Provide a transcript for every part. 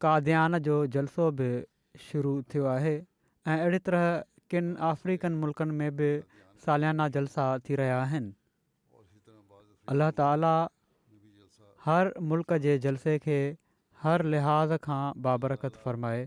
قاديان جو جلسو به شروع ٿيو آهي ۽ اهڙي طرح ڪن آفريڪن ملڪن ۾ به ساليانا جلسا ٿي رهيا آهن. الله تعاليٰ هر ملڪ جي جلسي کي هر لحاظ کان بابرڪت فرمائي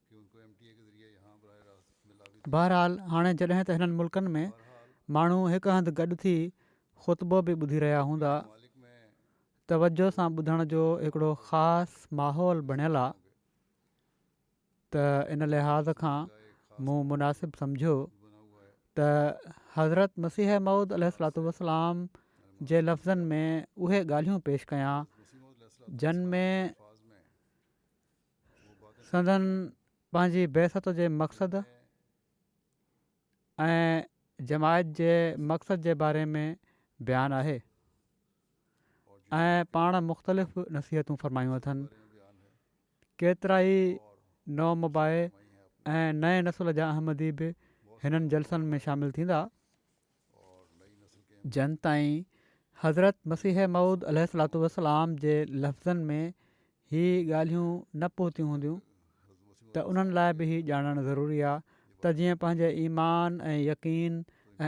بهرحال هاڻي جڏهن ته هنن ملڪن ۾ ماڻهو هڪ هنڌ گڏ ٿي خطبو به ٻڌي رهيا هوندا توجه سان ٻڌڻ جو هڪڙو خاص ماحول بڻيل آ ته ان لحاظ کان مون مناسب سمجهيو ته حضرت مسيح موعود عليه الصلوة والسلام جي لفظن ۾ اهي ڳالهيون پيش ڪيان جن ۾ سندن پنهنجي بعثت جي مقصد ۽ جماعت جي مقصد جي باري ۾ بيان آهي ۽ پاڻ مختلف نصيحتون فرمايون اٿن ڪيترائي نو مباح ۽ نئين نسل جا احمدي به هنن جلسن ۾ شامل ٿيندا جن تائين حضرت مسيح موعود عليه الصلات والسلام جي لفظن ۾ هي ڳالهيون نه پهتيون هونديون ته انهن لاء به هي ڄاڻڻ ضروري آهي ته جيئن پنهنجي ايمان ۽ يقين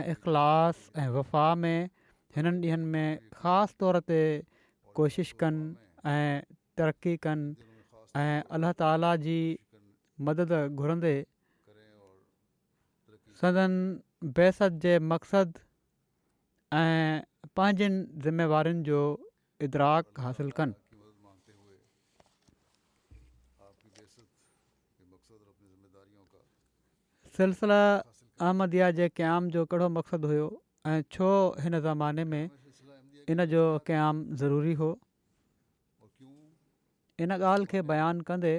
۽ اخلاص ۽ وفا ۾ هنن ڏينهن ۾ خاص طور تي ڪوشش ڪن ۽ ترقي ڪن ۽ الله تعاليٰ جي مدد گهرندي سندن بعثت جي مقصد ۽ پنهنجين ذميوارين جو ادراڪ حاصل ڪن. سلسله احمديه جي قيام جو ڪهڙو مقصد هيو ۽ ڇو هن زماني ۾ ان جو قيام ضروري هو؟ ان ڳالهه کي بيان ڪندي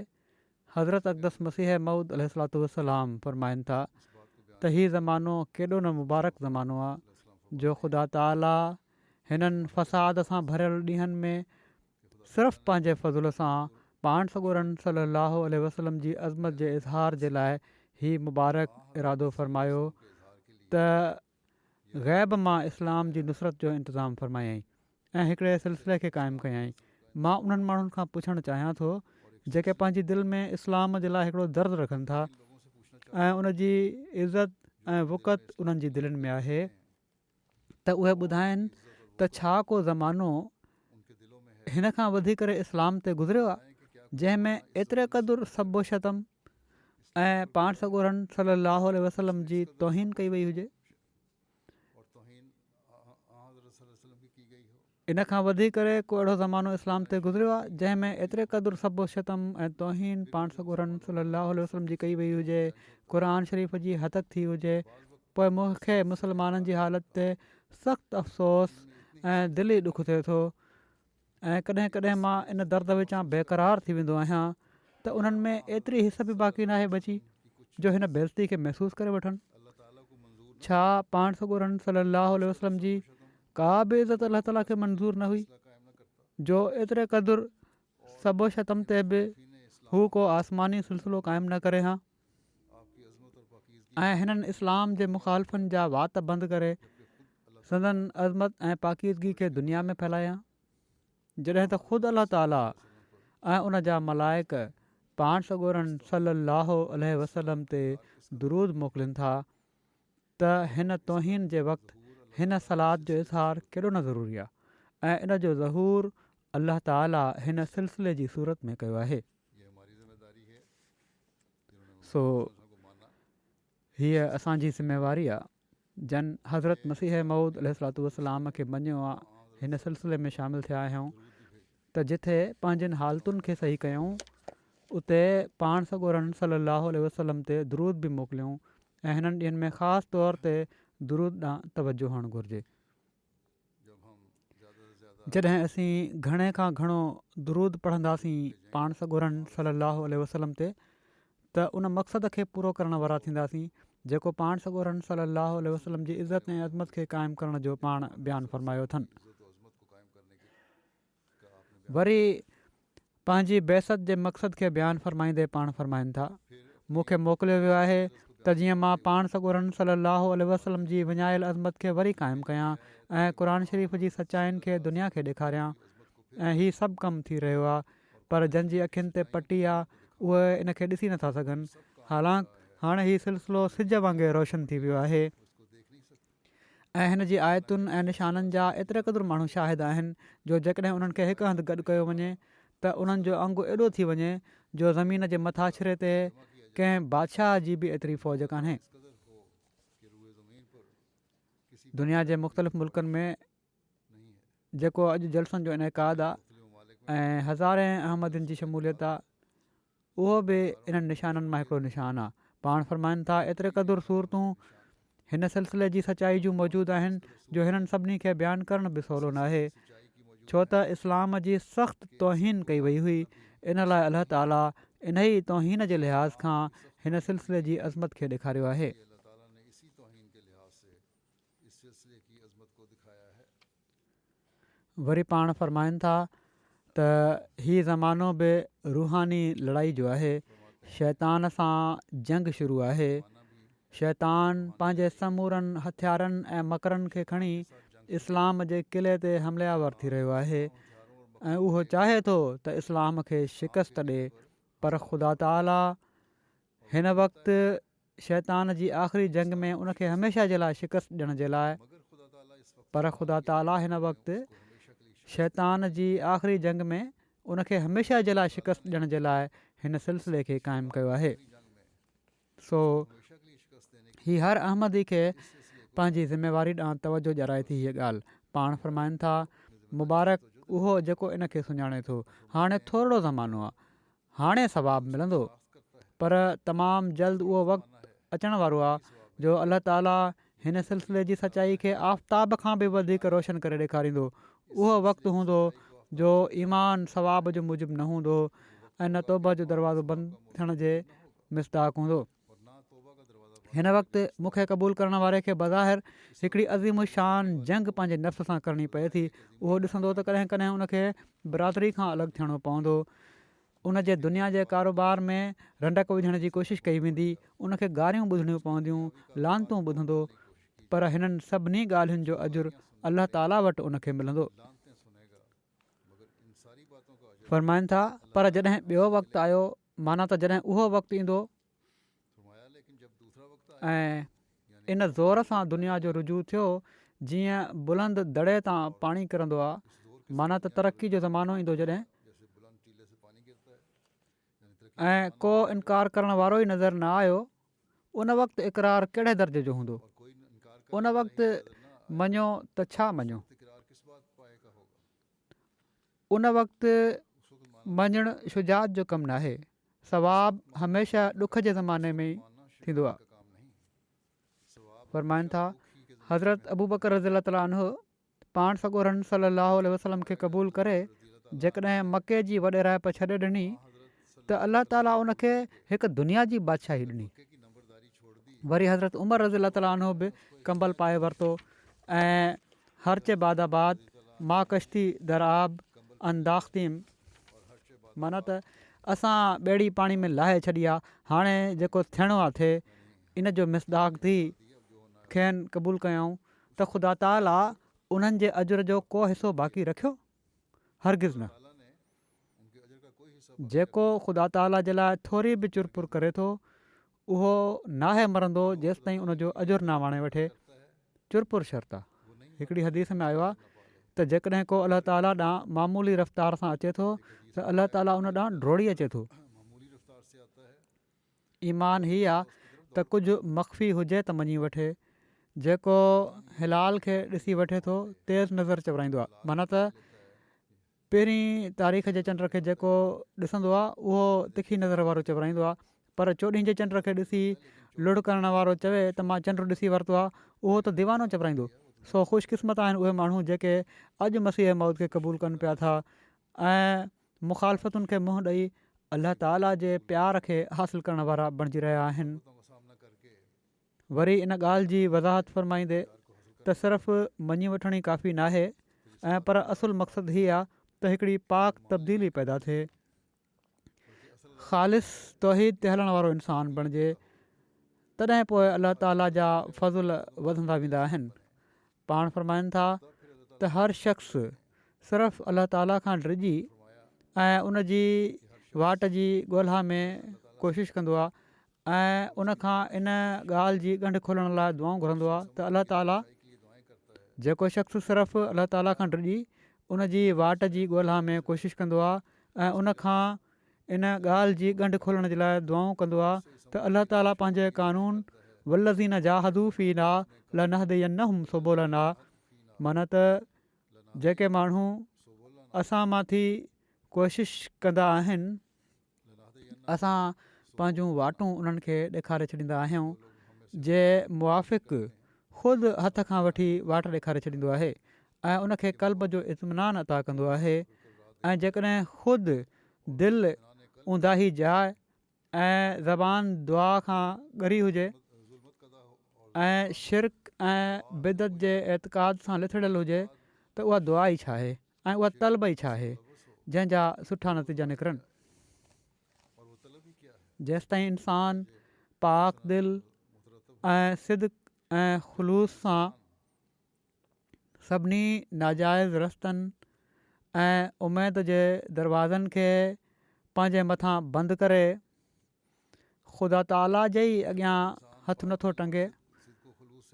حضرت اقدس مسيح مئود عليه صلات وسلام فرمائن ٿا ته هي زمانو ڪيڏو نه مبارڪ زمانو آ جو خدا تعاليٰ هنن فساد سان ڀريل ڏينهن ۾ صرف پنهنجي فضل سان پاڻ سڳورن صلي الله عليه وسلم جي عظمت جي اظهار جي لاء هي مبارڪ ارادو فرمايو ته غيب مان اسلام جي نصرت جو انتظام فرمايائين ۽ هڪڙي سلسلي کي قائم ڪيائين. مان انهن ماڻهن کان پڇڻ چاهيان ٿو جيڪي پنهنجي دل ۾ اسلام جي لاء هڪڙو درد رکن ٿا ۽ ان جي عزت ۽ وقعت انهن جي دلين ۾ آهي ته اهي ٻڌائين ته ڇا ڪو زمانو هن کان وڌيڪ اسلام تي گذريو آهي جنهن ۾ ايتري قدر سب و شتم ۽ پاڻ سڳورن صلي الله عليه وسلم جي توهين ڪئي وئي هجي ان کان وڌيڪ ڪري ڪو اهڙو زمانو اسلام تي گذريو آهي جنهن ۾ ايتري قدر سب و شتم ۽ توهين پاڻ سڳورن صلي الله عليه وسلم جي ڪئي وئي هجي قرآن شريف جي هتڪ ٿي هجي پوء مونکي مسلمانن جي حالت تي سخت افسوس ۽ دلي ڏک ٿئي ٿو ۽ ڪڏهن ڪڏهن مان ان درد وچان بيقرار ٿي ويندو آهيان ته انهن ۾ ايتري حس به باقي ناهي بچي جو هن بيزتي کي محسوس ڪري وٺن ڇا پاڻ سڳورن صلي الله عليه وسلم جي ڪا به عزت الله تعالیٰ کي منظور نه هئي جو ايتري قدر سب و شتم تي به هو ڪو آسماني سلسلو قائم نه ڪري هان ۽ هنن اسلام جي مخالفن جا وات بند ڪري سندن عظمت ۽ پاڪيزگي کي دنيا ۾ ڦهلايا جڏهن ته خود الله تعاليٰ ۽ ان جا ملائق پاڻ سڳورن صلي الله عليه وسلم تي درود موڪلين ٿا ته هن توهين جي وقت هن صلات جو اظهار ڪيڏو نه ضروري آهي ۽ ان جو ظهور الله تعاليٰ هن سلسلي جي صورت ۾ ڪيو آهي سو هيء اسان جي ذميواري آ جن حضرت مسيح موعود عليه الصلوة والسلام کي مڃيو آ هن سلسلي ۾ شامل ٿيا آهيون ته جتي پنهنجين حالتن کي صحيح ڪيون اتي پاڻ سڳورن صلي الله عليه وسلم تي درود به موڪليون ۽ هنن ڏينهن ۾ خاص طور تي درود ڏانهن توجه هئڻ گهرجي جڏهن اسين گهڻي کان گهڻو درود پڙهنداسين پاڻ سڳورن صلّي اللّٰه عليه وسلّم تي ته ان مقصد کي پورو ڪرڻ وارا ٿينداسين جيڪو پاڻ سڳورن صلّي اللّٰه عليه وسلّم جي عزت ۽ عظمت کي قائم ڪرڻ جو پاڻ بيان فرمايو اٿن. وري پنهنجي بعثت جي مقصد کي بيان فرمائيندي پاڻ فرمائن ٿا، مون کي موڪليو ويو آهي ته جيئن مان پاڻ سڳورن صلّي اللّٰه عليه وسلّم جي وڃايل عظمت کي وري قائم ڪيان ۽ قرآن شريف جي سچائين کي دنيا کي ڏيکاريان ۽ هي سڀ ڪم ٿي رهيو آهي پر جن جي اکين تي پٽي آهي اهي ان کي ڏسي نٿا سگهن حالانڪ هاڻ هي سلسلو سج وانگي روشن ٿي ويو آهي. ۽ هن جي آيتن ۽ نشانن جا ايتريقدر ماڻهو شاهد آهن جو جيڪڏهن انهن کي هڪ هنڌ گڏ ڪيو وڃي ته انهن جو انگ ايڏو ٿي وڃي جو زمين جي مٿاڇري تي ڪنهن بادشاهه جي به ايتري فوج ڪانهي. دنيا جي مختلف ملڪن ۾ جيڪو اڄ جلسن جو انعقاد آهي ۽ هزارين احمدين جي شموليت آهي، اهو به انهن نشانن مان هڪڙو نشان آ. پاڻ فرمائن ٿا، ايتري قدر صورتون هن سلسلي جي سچائي جون موجود آهن جو هنن سڀني کي بيان ڪرڻ به سولو ناهي. ڇو ته اسلام جي سخت توهين ڪئي وئي هئي، ان لاء الله تعاليٰ انهيء توهين جي لحاظ کان هن سلسلي جي عظمت کي ڏيکاريو آهي. وري پاڻ فرمائن ٿا ته هي زمانو به روحاني لڙائي جو آهي، شيطان سان جنگ شروع آهي، شيطان پنهنجي سمورن هٿيارن ۽ مڪرن کي کڻي اسلام جي قلعي تي حمله آور ٿي رهيو آهي ۽ اهو چاهي ٿو ته اسلام کي شڪست ڏي پر خدا تعالي هن وقت شيطان جي آخري جنگ ۾ ان کي هميشه جي لاء شڪست ڏيڻ جي لاء پر خدا تعاليٰ هن وقت شيطان جي آخري جنگ ۾ ان کي هميشه جي لاء شڪست ڏيڻ جي لاء هن سلسلي کي قائم ڪيو آهي سو هي هر احمدي کي پنهنجي ذميواري ڏانهن توجه ڏيارائي ٿي هيء ڳالهه پاڻ فرمائن ٿا مبارڪ اهو جيڪو ان کي سڃاڻي ٿو هاڻي ٿورڙو زمانو آهي هاڻي ثواب ملندو پر تمام جلد اهو وقت اچڻ وارو آهي جو الله تعالي هن سلسلي جي سچائي کي آفتاب کان به وڌيڪ روشن ڪري ڏيکاريندو اهو وقت هوندو جو ايمان ثواب جو موجب نه هوندو ۽ نه توبه جو دروازو بند ٿيڻ جي مصداق هوندو. هن وقت مون کي قبول ڪرڻ واري کي بظاهر هڪڙي عظيم الشان جنگ پنهنجي نفس سان ڪرڻي پئي ٿي اهو ڏسندو ته ڪڏهن ڪڏهن ان کي برادري کان الڳ ٿيڻو پوندو ان جي دنيا جي ڪاروبار ۾ رنڊڪ وجهڻ جي ڪوشش ڪئي ويندي ان کي گاريون ٻڌڻيون پونديون لانتون ٻڌندو پر هنن سڀني ڳالهين جو اجر الله تعاليٰ وٽ ان کي ملندو فرمائن ٿا پر جڏهن ٻيو وقت آيو معنيٰ ته جڏهن اهو وقت ايندو ۽ ان زور سان دنيا جو رجوع ٿيو جيئن بلند دڙي تان پاڻي ڪرندو آهي معنيٰ ته ترقي جو زمانو ايندو جڏهن ۽ ڪو انڪار ڪرڻ وارو ئي نظر نه آيو ان وقت اقرار ڪهڙي درجي جو هوندو ان وقت مڃيو ته ڇا مڃيو ان وقت مڃڻ شجاعت جو ڪم ناهي، ثواب هميشه ڏک جي زماني ۾ ٿيندو آهي. فرمائن ٿا حضرت ابوبڪر رضي الله تعالٰي عنه پاڻ سڳورن صلي الله عليه وسلم کي قبول ڪري جيڪڏهن مڪي جي وڏيرائپ ڇڏي ڏني ته الله تعالي ان کي هڪ دنيا جي بادشاهي ڏني وري حضرت عمر رضي الله تعالي عنه به ڪمبل پائي ورتو ۽ هرچ بعد آباد ما ڪشتي در آب انداختيم مانا ته اسان ٻيڙي پاڻي ۾ لاهي ڇڏي آ هاڻي جيڪو ٿيڻو آ ٿي ان جو مصداق ٿي کين قبول ڪيائون ته خدا تعالي انهن جي اجر جو ڪو حصو باقي رکيو هرگز نه. جيڪو خدا تعاليٰ جي لاء ٿوري به چر پور ڪري ٿو، اهو ناهي مرندو جيستائين ان جو اجر نه ماڻي وٺي. چر پور شرط آهي. هڪڙي حديث ۾ آيو آهي ته جيڪڏهن ڪو الله تعاليٰ ڏانهن معمولي رفتار سان اچي ٿو ته الله تعاليٰ ان ڏانهن ڊوڙي اچي ٿو. ايمان هي آ ته ڪجهه مخفي هجي ته مڃي وٺي. جيڪو هلال کي ڏسي وٺي ٿو تيز نظر چورائيندو آ. معنيٰ ته پهرين تاريخ جي چنڊ کي جيڪو ڏسندو آ اهو تکي نظر وارو چورائيندو آ پر چوڏهين جي چنڊ کي ڏسي لڙهه ڪرڻ وارو چوي ته مان چنڊ ڏسي ورتو آ اهو ته ديوانو چورائيندو. سو خوش قسمت آهن اهي ماڻهو جيڪي اڄ مسيح موعود کي قبول ڪن پيا ٿا ۽ مخالفتن کي منهن ڏئي الله تعالي جي پيار کي حاصل ڪرڻ وارا بڻجي رهيا آهن وري ان ڳالهه جي وضاحت فرمائيندي ته صرف مڃي وٺڻ ئي ڪافي نه آهي ۽ پر اصل مقصد هي آهي ته هڪڙي پاڪ تبديلي پيدا ٿئي خالص توحيد تي هلڻ وارو انسان بڻجي تڏهن پوء الله تعالي جا فضل وڌندا ويندا آهن پاڻ فرمائن ٿا ته هر شخص صرف الله تعالي کان ڊڄي ۽ ان جي واٽ جي ڳولها ۾ ڪوشش ڪندو آهي ۽ ان کان ان ڳالهه جي ڳنڍ کولڻ لاء دعائون گهرندو آهي ته الله تعالي جيڪو شخص صرف الله تعالي کان ڊڄي ان جي واٽ جي ڳولها ۾ ڪوشش ڪندو آهي ۽ ان کان ان ڳالهه جي ڳنڍ کولڻ جي لاء دعائون ڪندو آهي ته الله تعالي پنهنجي قانون والذين جاهدوا فينا لنهدينهم سبلنا معنيٰ ته جيڪي ماڻهو اسان مان ٿي ڪوشش ڪندا آهن اسان پنهنجون واٽون انهن کي ڏيکاري ڇڏيندا آهيون جي موافق خود هٿ کان وٺي واٽ ڏيکاري ڇڏيندو آهي ۽ ان کي قلب جو اطمينان عطا ڪندو آهي ۽ جيڪڏهن خود دل اونداهي جاء ۽ زبان دعا کان ڳري هجي ۽ شرڪ ۽ بدعت جي اعتقاد سان لٿڙيل هجي ته اها دعا ئي ڇاهي ۽ اها طلب ئي ڇاهي جنهن جا سٺا نتيجا نڪرن. جيستائين انسان پاڪ دل ۽ صدق ۽ خلوص سان سڀني ناجائز رستن ۽ اميد جي دروازن کي پنهنجي مٿان بند ڪري خدا تعاليٰ جي ئي اڳيان هٿ نٿو ٽنگي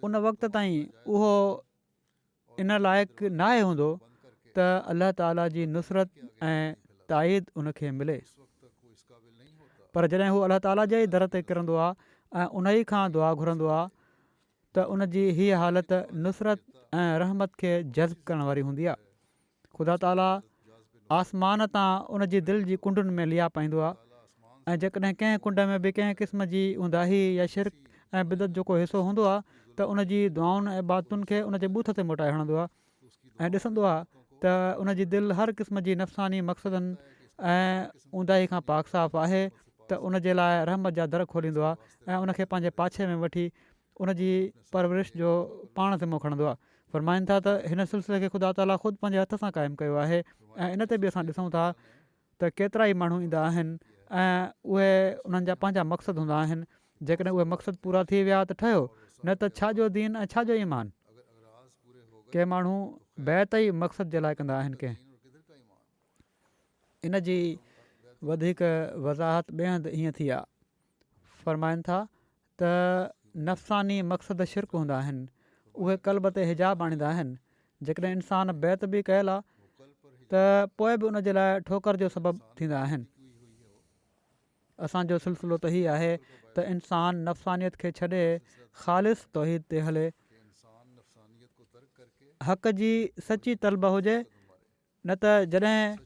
ان وقت تائين اهو ان لائق ناهي هوندو ته الله تعاليٰ جي نصرت ۽ تائيد ان کي ملي پر جڏهن هو الله تعاليٰ جي در تي ڪرندو آهي ۽ ان ئي کان دعا گهرندو آهي ته ان جي هيء حالت نصرت ۽ رحمت کي جذب ڪرڻ واري هوندي آهي. خدا تعاليٰ آسمان تان ان جي دل جي ڪنڊن ۾ ليئا پائيندو آهي ۽ جيڪڏهن ڪنهن ڪنڊ ۾ به ڪنهن قسم جي اونداهي يا شرڪ ۽ بدعت جو ڪو حصو هوندو آهي ته ان جي دعائن ۽ عبادتن کي ان جي بوٿ تي موٽائي هڻندو آهي ۽ ڏسندو آهي ته ان جي دل هر قسم جي نفساني مقصدن ۽ اونداهي کان پاڪ صاف آهي ته ان جي لاء رحمت جا در کوليندو آهي ۽ ان کي پنهنجي پاڇي ۾ وٺي ان جي پرورش جو پاڻ ذمو کڻندو آهي فرمائن ٿا ته هن سلسلي کي خدا تعالي خود پنهنجي هٿ سان قائم ڪيو آهي ۽ ان تي به اسان ڏسون ٿا ته ڪيترائي ماڻهو ايندا آهن ۽ اهي انهن جا پنهنجا مقصد هوندا آهن جيڪڏهن اهي مقصد پورا ٿي ويا ته ٺهيو نه ته ڇا جو دين ۽ ڇا جو ايمان ڪي ماڻهو بيعت ئي مقصد جي لاء ڪندا آهن ڪي ان جي وڌيڪ وضاحت ٻئي هنڌ هيئن ٿي آهي فرمائن ٿا ته نفساني مقصد شرڪ هوندا آهن اهي قلب تي حجاب آڻيندا آهن جيڪڏهن انسان بيعت به ڪيل آهي ته پوء به ان جي لاء ٺوڪر جو سبب ٿيندا آهن اسانجو سلسلو ته هي آهي ته انسان نفسانيت کي ڇڏي خالص توحيد تي هلي حق جي سچي طلب هجي نه ته جڏهن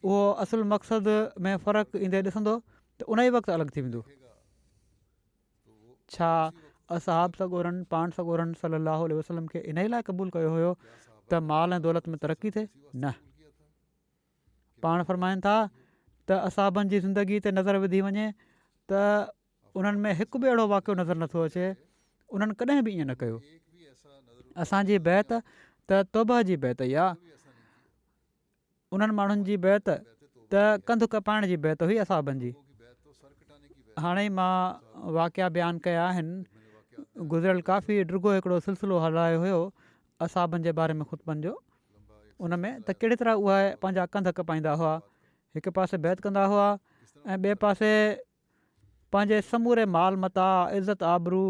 اهو اصل مقصد ۾ فرق ايندي ڏسندو ته ان ئي وقت الڳ ٿي ويندو. ڇا اصحاب سڳورن پاڻ سڳورن صلي الله عليه وسلم کي انهي لاء قبول ڪيو هيو ته مال ۽ دولت ۾ ترقي ٿئي؟ نه. پاڻ فرمائن ٿا ته اصحابن جي زندگي تي نظر وڌي وڃي ته انهن ۾ هڪ به اهڙو واقعو نظر نه ٿو اچي انهن ڪڏهن به ائين نه ڪيو. اسان جي بيعت ته توبه جي بيعت ئي آهي انهن ماڻهن جي بيعت ته ڪنڌ ڪپائڻ جي بيعت هئي اصحابن جي. هاڻي ئي مان واقعا بيان ڪيا آهن گذريل ڪافي ڊگهو هڪڙو سلسلو هلايو هيو اصحابن جي باري ۾ خطبن جو ان ۾ ته ڪهڙي طرح اهي پنهنجا ڪنڌ ڪپائيندا هئا هڪ پاسي بيعت ڪندا هئا ۽ ٻئي پاسي پنهنجي سموري مال متاع، عزت آبرو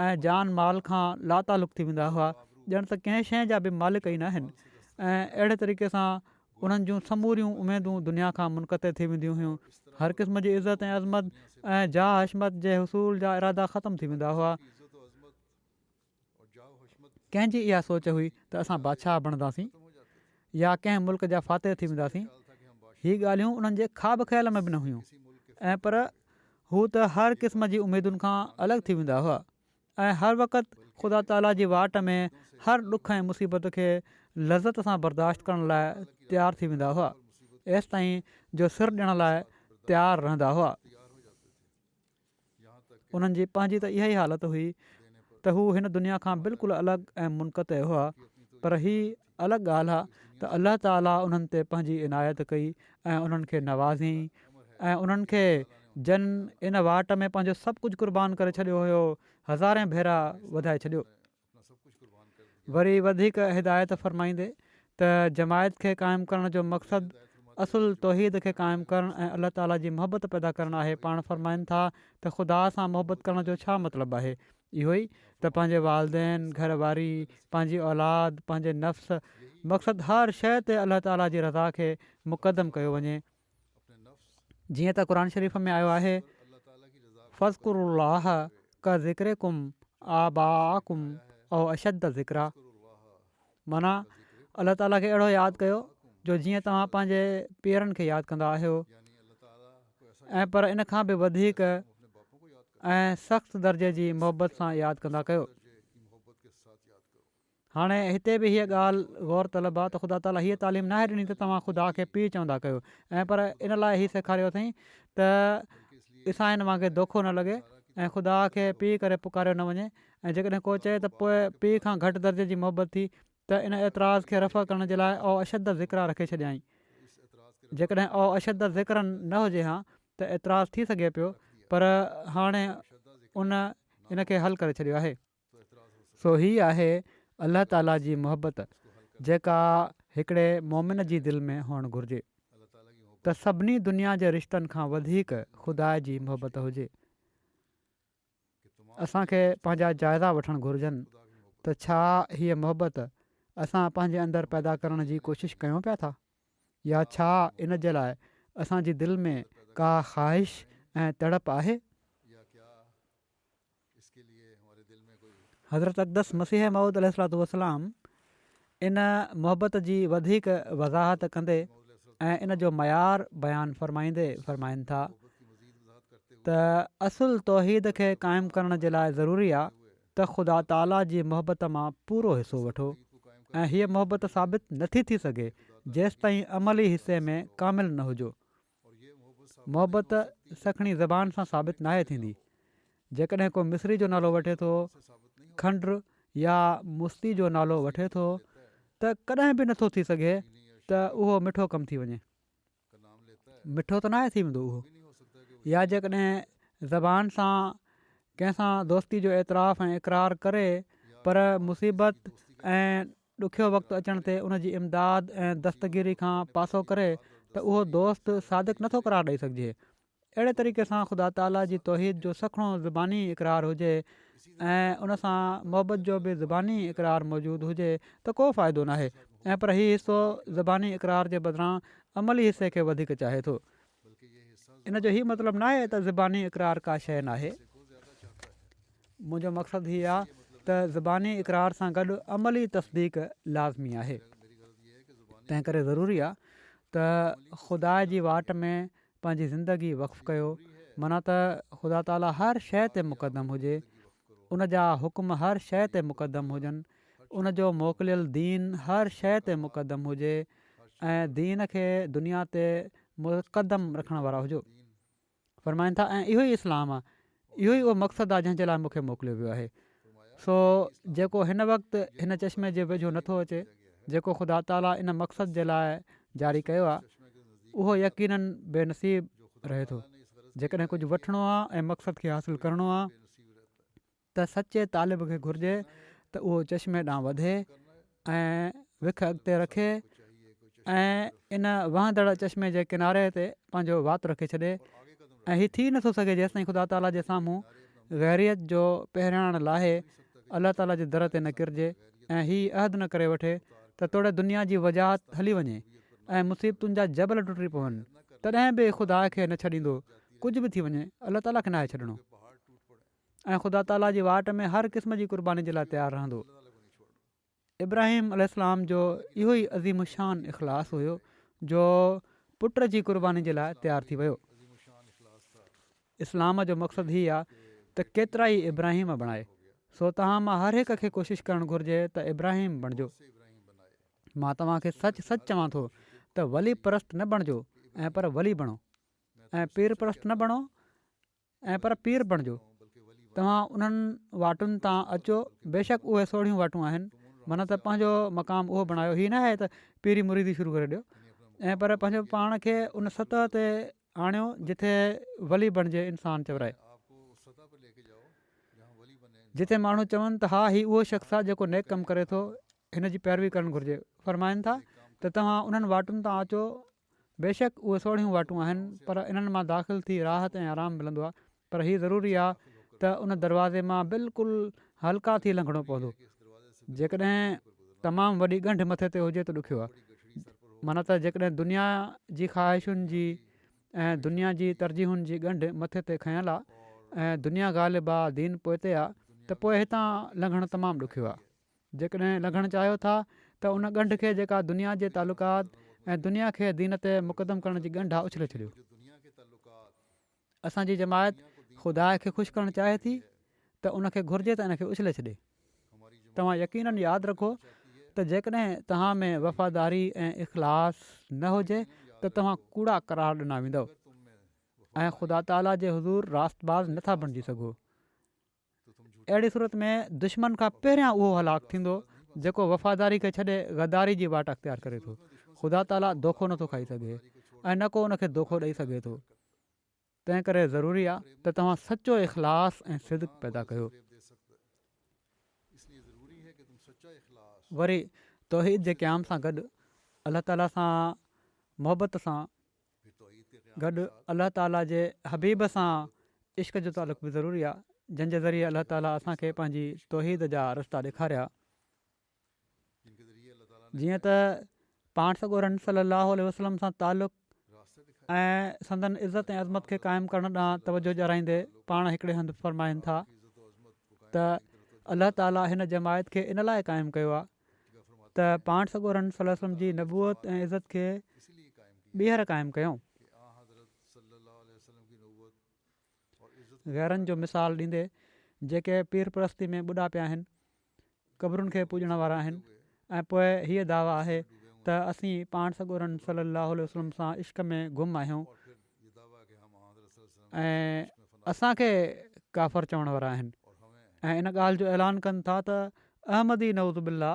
۽ جان مال کان لاتعلق ٿي ويندا هئا، ڄڻ ته ڪنهن شيء جا به مالڪ ئي ناهن ۽ اهڙي طريقي سان انهن جون سموريون اميدون دنيا کان منقطع ٿي وينديون هيون. هر قسم جي عزت ۽ عظمت ۽ جاه حشمت جي حصول جا ارادا ختم ٿي ويندا هئا. ڪنهن جي اها سوچ هئي ته اسان بادشاهه بڻنداسين يا ڪنهن ملڪ جا فاتح ٿي وينداسين هي ڳالهيون انهن جي خواب خيال ۾ به نه هيون ۽ پر هو ته هر قسم جي اميدن کان الڳ ٿي ويندا هئا ۽ هر وقت خدا تعاليٰ جي واٽ ۾ هر ڏک ۽ مصيبت کي لذت سان برداشت ڪرڻ لاء تيار ٿي ويندا هئا ايستائين جو سر ڏيڻ لاء تيار رهندا هئا انهن جي پنهنجي ته اها ئي حالت هئي ته هو هن دنيا کان بلڪل الڳ ۽ منقطع هئا پر هي الڳ ڳالهه آهي ته الله تعاليٰ انهن تي پنهنجي عنايت ڪئي ۽ انهن کي نوازيائين ۽ انهن کي جن ان واٽ ۾ پنهنجو سڀ ڪجهه قربان ڪري ڇڏيو هيو هزارين ڀيرا وڌائي ڇڏيو وري وڌيڪ هدايت فرمائيندي ته جماعت کي قائم ڪرڻ جو مقصد اصل توحيد کي قائم ڪرڻ ۽ الله تعاليٰ جي محبت پيدا ڪرڻ آهي پاڻ فرمائن ٿا ته خدا سان محبت ڪرڻ جو ڇا مطلب آهي اهو ئي ته پنهنجي والدين گهر واري پنهنجي اولاد پنهنجي نفس مقصد هر شيء تي الله تعاليٰ جي رضا کي مقدم ڪيو وڃي جيئن ته قرآن شريف ۾ آيو آهي فذڪروا الله ڪذڪرڪم آباءکم او اشد ذڪرا معنيٰ الله تعاليٰ کي اهڙو ياد ڪيو جو جيئن توهان پنهنجي پيرن کي ياد ڪندا آهيو ۽ پر ان کان به وڌيڪ ۽ سخت درجي جي محبت سان ياد ڪندا ڪيو هاڻي هتي به هيء ڳالهه غور طلب آهي ته خدا تعاليٰ هيء تعليم ناهي ڏني ته توهان خدا کي پيء چوندا ڪيو ۽ پر ان لاء هي سيکاريو اٿئي ته عيسائين وانگي دوکو نه لڳي ۽ خدا کي پيء ڪري پڪاريو نه وڃي ۽ جيڪڏهن ڪو چئي ته پوء پيء کان گهٽ درجي جي محبت ٿي ته ان اعتراض کي رفع ڪرڻ جي لاء او اشد ذڪرا رکي ڇڏيائين جيڪڏهن او اشد ذڪر نه هجي ها ته اعتراض ٿي سگهي پيو پر هاڻي ان ان کي حل ڪري ڇڏيو آهي سو هي آهي الله تعالي جي محبت جيڪا هڪڙي مؤمن جي دل ۾ هئڻ گهرجي ته سڀني دنيا جي رشتن کان وڌيڪ خدا جي محبت هجي. اسان کي پنهنجا جائزا وٺڻ گهرجن ته ڇا هيء محبت اسان پنهنجي اندر پيدا ڪرڻ جي ڪوشش ڪيون پيا ٿا يا ڇا ان جي لاء اسان جي دل ۾ ڪا خواهش ۽ تڙپ آهي. حضرت اقدس مسيح موعود عليه الصلاة والسلام ان محبت جي وڌيڪ وضاحت ڪندي ۽ ان جو معيار بيان فرمائيندي فرمائن ٿا ته اصل توحيد کي قائم ڪرڻ جي لاء ضروري آهي ته خدا تعاليٰ جي محبت مان پورو حصو وٺو ۽ هيء محبت ثابت نٿي ٿي سگهي جيستائين عملي حصي ۾ ڪامل نه هجو محبت سکڻي زبان سان ثابت ناهي ٿيندي. جيڪڏهن ڪو مصري جو نالو وٺي ٿو، کنڊر يا مستي جو نالو وٺي ٿو ته ڪڏهن به نٿو ٿي سگهي ته اهو مٺو ڪم ٿي وڃي. مٺو ته ناهي ٿي ويندو اهو. يا جيڪڏهن زبان سان ڪنهن سان دوستي جو اعتراف ۽ اقرار ڪري پر مصيبت ۽. ڏکيو وقت اچڻ تي ان جي امداد ۽ دستگيري کان پاسو ڪري ته اهو دوست صادق نٿو قرار ڏئي سگهجي. اهڙي طريقي سان خدا تعاليٰ جي توحيد جو سکڻو زباني اقرار هجي ۽ ان سان محبت جو به زباني اقرار موجود هجي ته ڪو فائدو ناهي ۽ پر هي حصو زباني اقرار جي بدران عملي حصي کي وڌيڪ چاهي ٿو. ان جو هي مطلب ناهي ته زباني اقرار ڪا شيء ناهي. منهنجو مقصد هي آهي ته زباني اقرار سان گڏ عملي تصديق لازمي آهي. تنهن ڪري ضروري آهي ته خدا جي واٽ ۾ پنهنجي زندگي وقف ڪيو، معنيٰ ته خدا تعاليٰ هر شيء تي مقدم هجي، ان جا حڪم هر شيء تي مقدم هجن، ان جو موڪليل دين هر شيء تي مقدم هجي ۽ دين کي دنيا تي مقدم رکڻ وارا هجو. فرمائن ٿا ۽ اهو ئي اسلام آهي، اهو ئي اهو مقصد آهي جنهن جي لاء مون کي موڪليو ويو آهي. سو جيڪو هن وقت هن چشمي جي ويجهو نه ٿو اچي، جيڪو خدا تعاليٰ ان مقصد جي لاء جاري ڪيو آهي، اهو يقيناً بي نصيب رهي ٿو. جيڪڏهن ڪجهه وٺڻو آهي ۽ مقصد کي حاصل ڪرڻو آهي، ته سچي طالب کي گهرجي ته اهو چشمي ڏانهن وڌي ۽ وک اڳتي رکي ۽ ان وهندڙ چشمي جي ڪناري تي پنهنجو وات رکي ڇڏي ۽ هي ٿي نٿو سگهي جيستائين خدا تعاليٰ جي سامهون غيريت جو پهرياڻ لاهي الله تعاليٰ جي در تي نه ڪرجي ۽ هي عهد نه ڪري وٺي ته توڙي دنيا جي وجاهت هلي وڃي ۽ مصيبتن جا جبل ٽٽي پون تڏهن به خدا کي نه ڇڏيندو ڪجهه به ٿي وڃي الله تعالي کي ناهي ڇڏڻو ۽ خدا تعالي جي واٽ ۾ هر قسم جي قرباني جي لاء تيار رهندو ابراهيم علي اسلام جو اهو ئي عظيم شان اخلاص هيو جو پٽ جي قرباني جي لاء تيار ٿي ويو اسلام جو مقصد هي آ ته ڪيترا ئي ابراهيم بڻائي سو توهان مان هر هڪ کي ڪوشش ڪرڻ گهرجي ته ابراهيم بڻجو مان توهان کي سچ سچ چوان ٿو ته ولي پرست نه بڻجو ۽ پر ولي بڻو ۽ پير پرست نه بڻو ۽ پر پير بڻجو توهان انهن واٽن تان اچو بيشڪ اهي سوڙهيون واٽون آهن معنيٰ ته پنهنجو مقام اهو بڻايو هي نه آهي ته پيري مريدي شروع ڪري ڏيو ۽ پر پنهنجو پاڻ کي ان سطح تي آڻيو جتي ولي بڻجي انسان چورائي جتي ماڻهو چون ته ها هي اهو شخص آهي جيڪو نيڪ ڪم ڪري ٿو هن جي پيروي ڪرڻ گهرجي. فرمائن ٿا ته توهان انهن واٽن تان اچو بيشڪ اهي سوڙهيون واٽون آهن پر انهن مان داخل ٿي راحت ۽ آرام ملندو آهي پر هي ضروري آهي ته ان دروازي مان بلڪل هلڪا ٿي لنگهڻو پوندو جيڪڏهن تمام وڏي ڳنڍ مٿي تي هجي ته ڏکيو آهي معنيٰ ته جيڪڏهن دنيا جي خواهشن جي ۽ دنيا جي ترجيحن جي ڳنڍ مٿي تي کنيل آهي ۽ دنيا غالب آهي دين پوئتي آهي ته پوء هتان لنگهڻ تمام ڏکيو آهي جيڪڏهن لنگهڻ چاهيو ٿا ته ان ڳنڍ کي جيڪا دنيا جي تعلقات ۽ دنيا کي دين تي مقدم ڪرڻ جي ڳنڍ آهي اڇلي ڇڏيو. اسان جي جماعت خدا کي خوش ڪرڻ چاهي ٿي ته ان کي گهرجي ته ان کي اڇلي ڇڏي. توهان يقينن ياد رکو ته جيڪڏهن توهان ۾ وفاداري ۽ اخلاص نه هجي ته توهان ڪوڙا قرار ڏنا ويندؤ ۽ خدا تعاليٰ جي حضور راست باز نه ٿا بڻجي سگهو. اهڙي صورت ۾ دشمن کان پهريان اهو هلاڪ ٿيندو جيڪو وفاداري کي ڇڏي غداري جي واٽ اختيار ڪري ٿو. خدا تعاليٰ دوکو نٿو کائي سگهي ۽ نه ڪو ان کي دوکو ڏئي سگهي ٿو. تنهن ڪري ضروري آهي ته توهان سچو اخلاص ۽ صدق پيدا ڪيو. وري توحيد جي قيام سان گڏ الله تعاليٰ سان محبت سان گڏ الله تعاليٰ جي حبيب سان عشق جو تعلق به ضروري آهي جنهن جي ذريعي الله تعاليٰ اسان کي پنهنجي توحيد جا رستا ڏيکاريا جيئن ته پاڻ سڳورن صلي الله عليه وسلم سان تعلق ۽ سندن عزت ۽ عظمت کي قائم ڪرڻ ڏانهن توجه ڏيارائيندي پاڻ هڪڙي هنڌ فرمائن ٿا ته الله تعاليٰ هن جماعت کي ان لاء قائم ڪيو آهي ته پاڻ سڳورن صلي الله عليه وسلم جي نبوت ۽ عزت کي ٻيهر قائم ڪيو. غيرن جو مثال ڏيندي جيڪي پير پرستي ۾ ٻڏا پيا آهن، قبرن کي پوڄڻ وارا آهن ۽ پوء هيء دعويٰ آهي ته اسين پاڻ سڳورن صلي الله عليه وسلم سان عشق ۾ گم آهيون ۽ اسان کي ڪافر چوڻ وارا آهن ۽ ان ڳالهه جو اعلان ڪن ٿا ته احمدي نوز بالله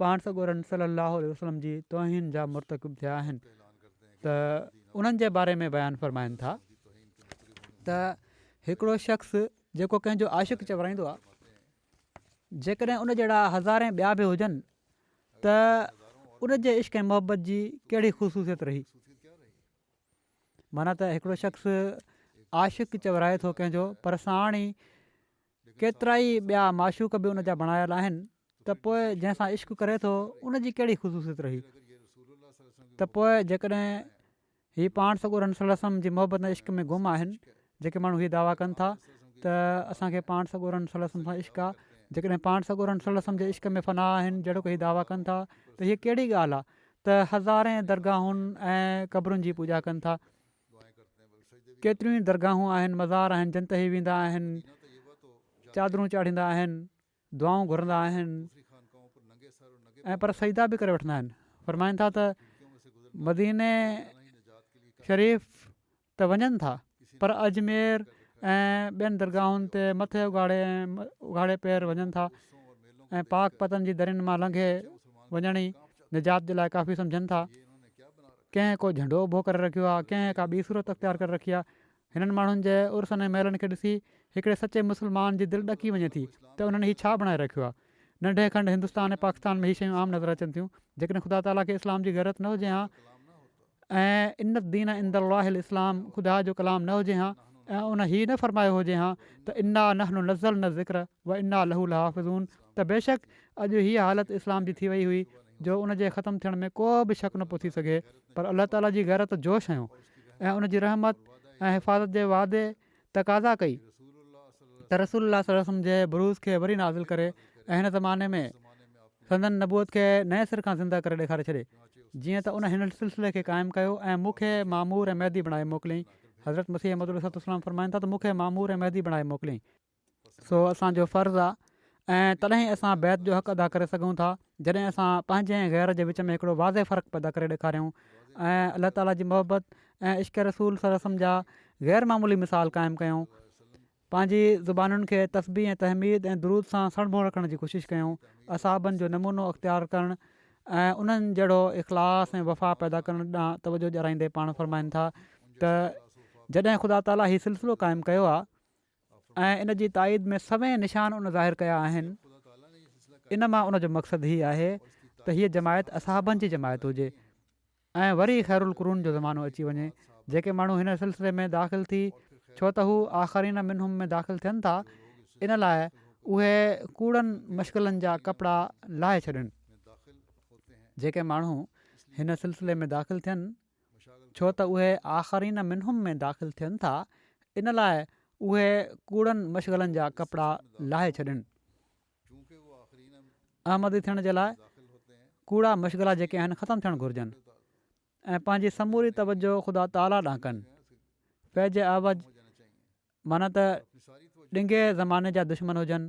پاڻ سڳورن صلي الله عليه وسلم جي توهين جا مرتڪب ٿيا آهن ته انهن جي باري ۾ بيان فرمائن ٿا ته هڪڙو شخص جيڪو ڪنهن جو عاشق چورائيندو آ جيڪڏهن ان جهڙا هزارين ٻيا به هجن ته ان جي عشق ۽ محبت جي ڪهڙي خصوصيت رهي معنيٰ ته هڪڙو شخص عاشق چورائي ٿو ڪنهن جو پر ساڻ ئي ڪيترائي ٻيا معشوق به ان جا بڻايل آهن ته پوء جنهن سان عشق ڪري ٿو ان جي ڪهڙي خصوصيت رهي ته پوء جيڪڏهن هي پاڻ سڳورن سلسم جي محبت عشق ۾ گم آهن جيڪي ماڻهو هي دعويٰ ڪن ٿا ته اسان کي پاڻ سڳورن صلي وسلم سان عشق آهي جيڪڏهن پاڻ سڳورن صلي وسلم جي عشق ۾ فنا آهن جهڙوڪ هي دعويٰ ڪن ٿا ته هيء ڪهڙي ڳالهه آهي ته هزارين درگاهن ۽ قبرن جي پوڄا ڪن ٿا ڪيتريون ئي درگاهون آهن مزار آهن جن تي هي ويندا آهن چادرون چاڙهيندا آهن دعائون گهرندا آهن ۽ پر سجدا به ڪري وٺندا آهن فرمائن ٿا ته مديني شريف ته وڃن ٿا پر اجمير ۽ ٻين درگاهن تي مٿي اگهاڙي ۽ اگهاڙي پير وڃن ٿا ۽ پاڪ پتن جي درين مان لنگهي وڃڻ ئي نجات جي لاء ڪافي سمجهن ٿا ڪنهن ڪو جهنڊو اڀو ڪري رکيو آهي ڪنهن ڪا ٻي صورت اختيار ڪري رکي آهي هنن ماڻهن جي عرسن ۽ ميلن کي ڏسي هڪڙي سچي مسلمان جي دل ڏڪي وڃي ٿي ته انهن هي ڇا بڻائي رکيو آهي ننڍي کنڊ هندستان ۽ پاڪستان ۾ هي شيون عام نظر اچن ٿيون جيڪڏهن خدا تعاليٰ کي اسلام جي غيرت نه هجي هان ۽ ان الدين عند الله الاسلام خدا جو ڪلام نه هجي هان ۽ ان هي نه فرمايو هجي هان ته انا نحن نزلنا الذڪر وانا له لحافظون ته بيشڪ اڄ هيء حالت اسلام جي ٿي وئي هئي جو ان جي ختم ٿيڻ ۾ ڪو به شڪ نه پيو ٿي سگهي پر الله تعاليٰ جي غيرت جوش هنيو ۽ ان جي رحمت ۽ حفاظت جي وعدي تقاضا ڪئي ته رسول الله صلي الله عليه وسلم جي بروز کي وري نازل ڪري ۽ هن زماني ۾ سندن نبوت کي نئين سر کان زنده ڪري ڏيکاري ڇڏي جيئن ته ان هن سلسلي کي قائم ڪيو ۽ مون کي معمور ۽ مهدي بڻائي موڪليائين حضرت مسيح موعود عليه السلام فرمائن ٿا ته مون کي معمور ۽ مهدي بڻائي موڪليائين سو اسان جو فرض آ ۽ تڏهن ئي اسان بيعت جو حق ادا ڪري سگهون ٿا جڏهن اسان پنهنجي ۽ غير جي وچ ۾ هڪڙو واضح فرق پيدا ڪري ڏيکاريون ۽ الله تعالي جي محبت ۽ عشق رسول صلي وسلم جا غير معمولي مثال قائم ڪيون پنهنجي زبانن کي تسبيح ۽ تحميد ۽ درود سان سڻڀو رکڻ جي ڪوشش ڪيون اصحابن جو نمونو اختيار ڪرڻ ۽ انهن جهڙو اخلاص ۽ وفا پيدا ڪرڻ ڏانهن توجه ڏيارائيندي پاڻ فرمائن ٿا ته جڏهن خدا تعالي هي سلسلو قائم ڪيو آ ۽ ان جي تائيد ۾ سوين نشان ان ظاهر ڪيا آهن ان مان ان جو مقصد هي آهي ته هيء جماعت اصحابن جي جماعت هجي ۽ وري خير القرون جو زمانو اچي وڃي جيڪي ماڻهو هن سلسلي ۾ داخل ٿي ڇو ته هو آخرين منهم ۾ داخل ٿين ٿا ان لاء اهي ڪوڙن مشغلن جا ڪپڙا لاهي ڇڏن جيڪي ماڻهو هن سلسلي ۾ داخل ٿين ڇو ته اهي آخرين منهم ۾ داخل ٿين ٿا ان لاء اهي ڪوڙن مشغلن جا ڪپڙا لاهي ڇڏين. احمدي ٿيڻ جي لاء ڪوڙا مشغلا جيڪي آهن ختم ٿيڻ گهرجن ۽ پنهنجي سموري توجهه خدا تعاليٰ ڏانهن ڪن. فيض اعوج معنيٰ ته ڏنگي زماني جا دشمن هجن.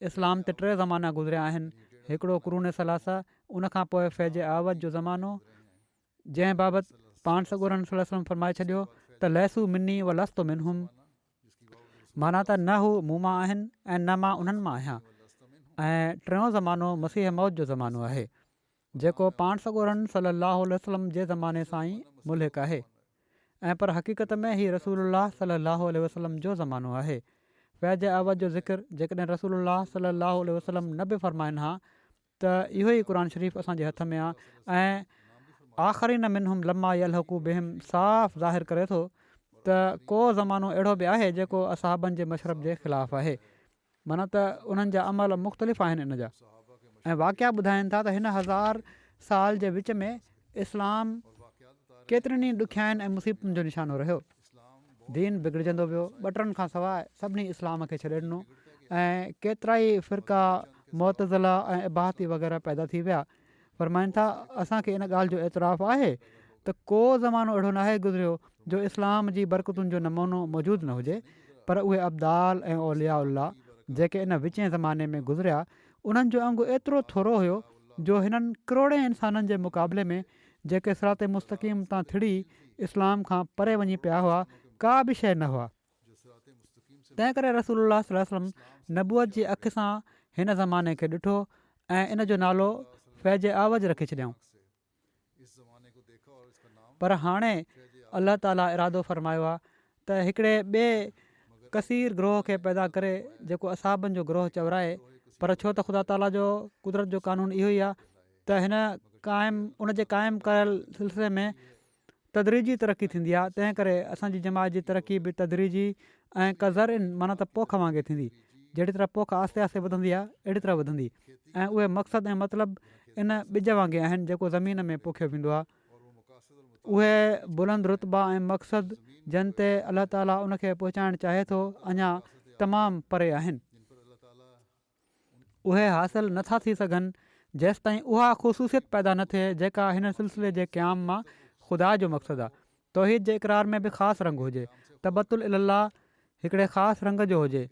اسلام تي ٽي زمانا گذريا آهن، هڪڙو قرون ثلاثه، ان کان پوء فيض اعوج جو زمانو، جنهن بابت پاڻ سڳورن صلي وسلم فرمائي ڇڏيو ته ليسو مني و لست منهم معنيٰ ته نه هو مون مان آهن ۽ نه مان انهن مان آهيان ۽ ٽيون زمانو مسيح موت جو زمانو آهي. جيڪو پاڻ سڳورن صلّي اللّٰه عليه وسلّم جي زماني سان ئي ملحق آهي ۽ پر حقيقت ۾ هي رسول الله صلّي اللّٰه عليه وسلّم جو زمانو آهي. فيض اعوض جو ذڪر جيڪڏهن رسول الله صلّي اللّٰه عليه وسلّم نه به فرمائن ها ته اهو ئي قرآن شريف اسان جي هٿ ۾ آ ۽ آخرين منهم لما يلحقوا بهم صاف ظاهر ڪري ٿو ته ڪو زمانو اهڙو به آهي جيڪو اصحابن جي مشرب جي خلاف آهي معنيٰ ته انهن جا عمل مختلف آهن ان جا ۽ واقعا ٻڌائين ٿا ته هن هزار سال جي وچ ۾ اسلام ڪيترين ئي ڏکيائين ۽ مصيبتن جو نشانو رهيو دين بگڙجندو ويو ٻٽرن کان سواء سڀني اسلام کي ڇڏي ڏنو ۽ ڪيترائي فرقا معتزلا ۽ اباحتي وغيره پيدا ٿي ويا فرمائن ٿا، اسان کي ان ڳالهه جو اعتراف آهي ته ڪو زمانو اهڙو ناهي گذريو جو اسلام جي برڪتن جو نمونو موجود نه هجي پر اهي ابدال ۽ اولياء الله جيڪي ان وچين زماني ۾ گذريا انهن جو انگ ايترو ٿورو هيو جو هنن ڪروڙين انسانن جي مقابلي ۾ جيڪي صراط مستقيم تان ٿڙي اسلام کان پري وڃي پيا هئا ڪا به شيء نه هئا. تنهن ڪري رسول الله صلي الله عليه وسلم نبوت جي اک سان هن زماني کي ڏٺو ۽ ان جو نالو فيض اعوج رکي ڇڏيائون پر هاڻي الله تعاليٰ ارادو فرمايو آهي ته هڪڙي ٻئي ڪثير گروهه کي پيدا ڪري جيڪو اصحابن جو گروهه چورائي پر ڇو ته خدا تعاليٰ جو قدرت جو قانون اهو ئي آهي ته هن قائم ان جي قائم ڪيل سلسلي ۾ تدريجي ترقي ٿيندي آهي تنهن ڪري اسان جي جماعت جي ترقي به تدريجي ۽ ڪزرع معنيٰ ته پوک وانگي ٿيندي جهڙي طرح پوک آهستي آهستي وڌندي آهي اهڙي طرح وڌندي ۽ اهي مقصد ۽ مطلب ان ٻج وانگي آهن جيڪو زمين ۾ پوکيو ويندو آهي اهي بلند رتبا ۽ مقصد جن تي الله تعاليٰ ان کي پهچائڻ چاهي ٿو اڃا تمام پري آهن اهي حاصل نه ٿا ٿي سگهن جيستائين اها خصوصيت پيدا نه ٿئي جيڪا هن سلسلي جي قيام مان خدا جو مقصد آهي. توحيد جي اقرار ۾ به خاص رنگ هجي، تبتل الالله هڪڙي خاص رنگ جو هجي،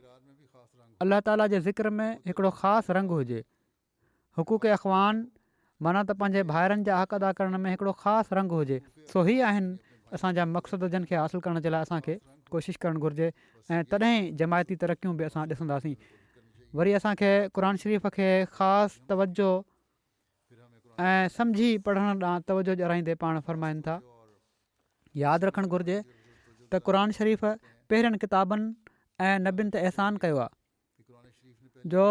الله تعالي جي ذڪر ۾ هڪڙو خاص رنگ هجي، حقوق اخوان معنيٰ ته پنهنجي ڀائرن جا حق ادا ڪرڻ ۾ هڪڙو خاص رنگ هجي. سو هي آهن اسان جا مقصد جن کي حاصل ڪرڻ جي لاء اسان کي ڪوشش ڪرڻ گهرجي ۽ تڏهن ئي جماعتي ترقيون به اسان ڏسنداسين. وري اسان کي قرآن شريف کي خاص توجه ۽ سمجهي پڙهڻ ڏانهن توجه ڏيارائيندي پاڻ فرمائن ٿا. ياد رکڻ گهرجي ته قرآن شريف پهرين ڪتابن ۽ نبين تي احسان ڪيو آهي. جو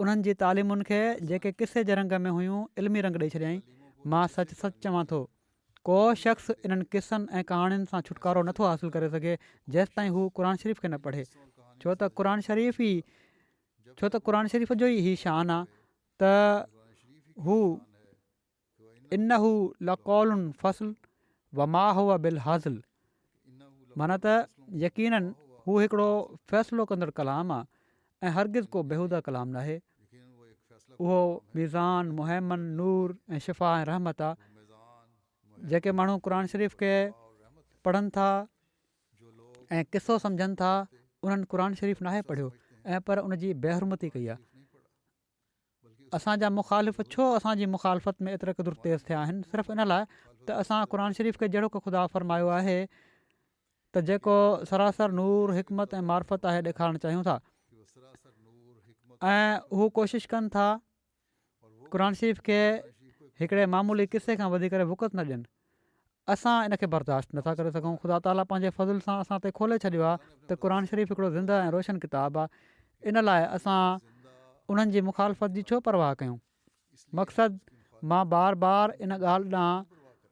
انهن جي تعليمن کي، جيڪي قصي جي رنگ ۾ هيون، علمي رنگ ڏئي ڇڏيائين. مان سچ سچ چوان ٿو، ڪو شخص انهن قصن ۽ ڪهاڻين سان ڇوٽڪارو نٿو حاصل ڪري سگهي، جيستائين هو قرآن شريف کي نه پڙهي. ڇو ته قرآن شريف ئي ڇو ته قرآن شريف جو ئي هي شان آ ته هو. انه لقول فصل وما هو بالهزل معنيٰ ته يقيناً هو هڪڙو فيصلو ڪندڙ ڪلام آ ۽ هرگز ڪو بيهوده ڪلام ناهي اهو ميزان مهمن نور ۽ شفا ۽ رحمت آ جيڪي ماڻهو قرآن شريف کي پڙهن ٿا ۽ قصو سمجهن ٿا انهن قرآن شريف ناهي پڙهيو ۽ پر ان جي بيحرمتي ڪئي آ اسان جا مخالف ڇو اسان جي مخالفت ۾ ايتري قدر تيز ٿيا آهن صرف ان لاء ته اسان قرآن شريف کي جهڙوڪ خدا فرمايو آهي ته جيڪو سراسر نور حڪمت ۽ معرفت آهي ڏيکارڻ چاهيون ٿا ۽ هو ڪوشش ڪن ٿا قرآن شريف کي هڪڙي معمولي قصي کان وڌي ڪري وقت نه ڏين اسان ان کي برداشت نٿا ڪري سگهون. خدا تعاليٰ پنهنجي فضل سان اسان تي کولي ڇڏيو آهي ته قرآن شريف هڪڙو زنده ۽ روشن ڪتاب آهي ان لاء اسان انهن جي مخالفت جي ڇو پرواهه ڪيون؟ مقصد مان بار بار ان ڳالهه ڏانهن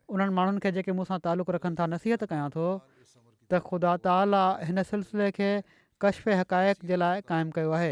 انهن ماڻهن کي جيڪي مون سان تعلق رکن ٿا نصيحت ڪيان ٿو ته خدا تعاليٰ هن سلسلي کي ڪشف حقائق جي لاء قائم ڪيو آهي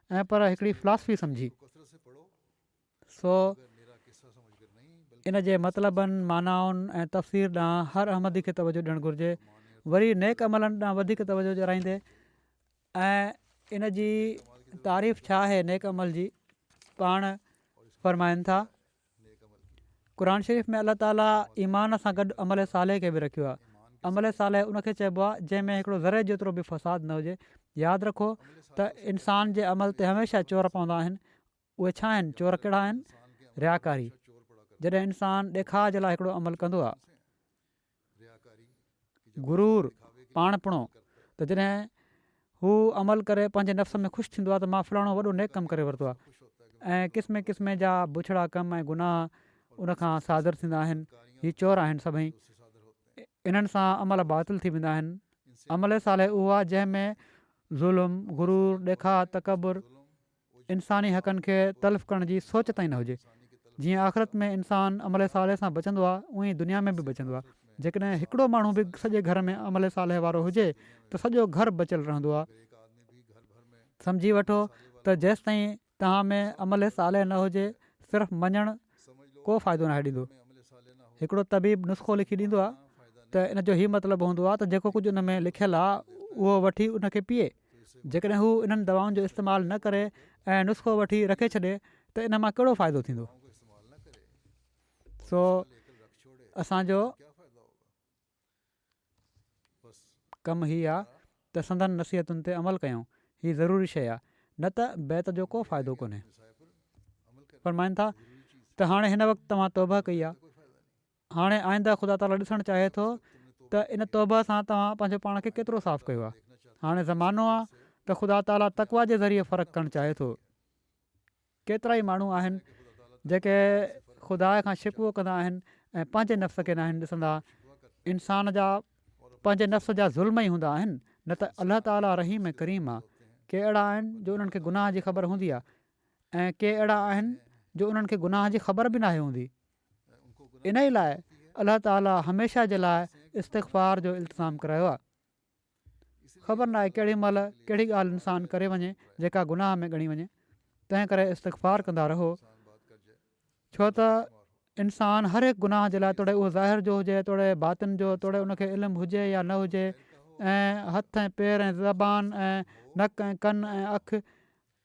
۽ پر هڪڙي فلاسفي سمجهي، سو ان جي مطلبن، معنائن ۽ تفسير ڏانهن هر احمدي کي توجه ڏيڻ گهرجي، وري نيڪ عملن ڏانهن وڌيڪ توجه ڏيارائيندي ۽ ان جي تعريف ڇا آهي نيڪ عمل جي، پاڻ فرمائن ٿا. قرآن شريف ۾ الله تعالي ايمان سان گڏ عمل صالح کي به رکيو آهي عمل صالح ان کي چئبو آهي جنهن ۾ هڪڙو ذري جيترو به فساد نه هجي ياد رکو ته انسان جي عمل تي هميشه چور پوندا آهن اهي ڇا آهن چور ڪهڙا آهن رياڪاري جڏهن انسان ڏيکاء جي لاء هڪڙو عمل ڪندو آهي غرور، پاڻپڻو، ته جڏهن هو عمل ڪري پنهنجي نفس ۾ خوش ٿيندو آهي ته مان فلاڻو وڏو نيڪ ڪم ڪري ورتو آهي ۽ قسمين قسمين جا بڇڙا ڪم ۽ گناهه ان کان صادر ٿيندا آهن. هي چور آهن سڀئي. انهن سان عمل باطل ٿي ويندا آهن. عمل صالح اهو آهي جنهن ۾ ظلم، غرور، ڏيکاء، تڪبر، انساني حقن کي تلف ڪرڻ جي سوچ تائين نه هجي. جيئن آخرت ۾ انسان عمل صالح سان بچندو آهي ايئن ئي دنيا ۾ به بچندو آهي. جيڪڏهن هڪڙو ماڻهو به سڄي گهر ۾ عمل صالح وارو هجي ته سڄو گهر بچيل رهندو آهي. سمجهي وٺو ته جيستائين توهان ۾ عمل صالح نه هجي صرف مڃڻ ڪو فائدو ناهي ڏيندو. هڪڙو طبيب نسخو لکي ڏيندو آهي ته ان جو هي مطلب هوندو آهي ته جيڪو ڪجهه ان ۾ لکيل آهي اهو وٺي ان کي پيئي جيڪڏهن هو انهن دوائن جو استعمال نه ڪري ۽ نسخو وٺي رکي ڇڏي ته ان مان ڪهڙو فائدو ٿيندو سو اسان جو ڪم هي آ ته سندن نصيحتن تي عمل ڪيون، هي ضروري شيء آ، نه ته بيعت جو ڪو فائدو ڪونهي. فرمائن ٿا ته هاڻي هن وقت توهان توبهه ڪئي آ، هاڻي آئنده خدا تعاليٰ ڏسڻ چاهي ٿو ته ان توبهه سان توهان پنهنجو پاڻ کي ڪيترو صاف ڪيو آ، هاڻي زمانو آ ته خدا تعاليٰ تقويٰ جي ذريعي فرق ڪرڻ چاهي ٿو. ڪيترائي ماڻهو آهن جيڪي خدا کان شڪوو ڪندا آهن ۽ پنهنجي نفس کي ناهن ڏسندا. انسان جا پنهنجي نفس جا ظلم ئي هوندا آهن نه ته الله تعاليٰ رحيم ۽ ڪريم آهي. ڪي اهڙا آهن جو انهن کي گناهه جي خبر هوندي آهي ۽ ڪي اهڙا آهن جو انهن کي گناهه جي خبر به ناهي هوندي. انهي لاء الله تعاليٰ هميشه جي لاء استغفار جو التزام ڪرايو آهي. خبر ناهي ڪهڙي مهل ڪهڙي ڳالهه انسان ڪري وڃي جيڪا گناهه ۾ ڳڻي وڃي تنهن ڪري استغفار ڪندا رهو ڇو ته انسان هر هڪ گناهه جي لاء توڙي اهو ظاهر جو هجي توڙي باطن جو توڙي ان کي علم هجي يا نه هجي ۽ هٿ ۽ پير ۽ زبان ۽ نڪ ۽ ڪن ۽ اک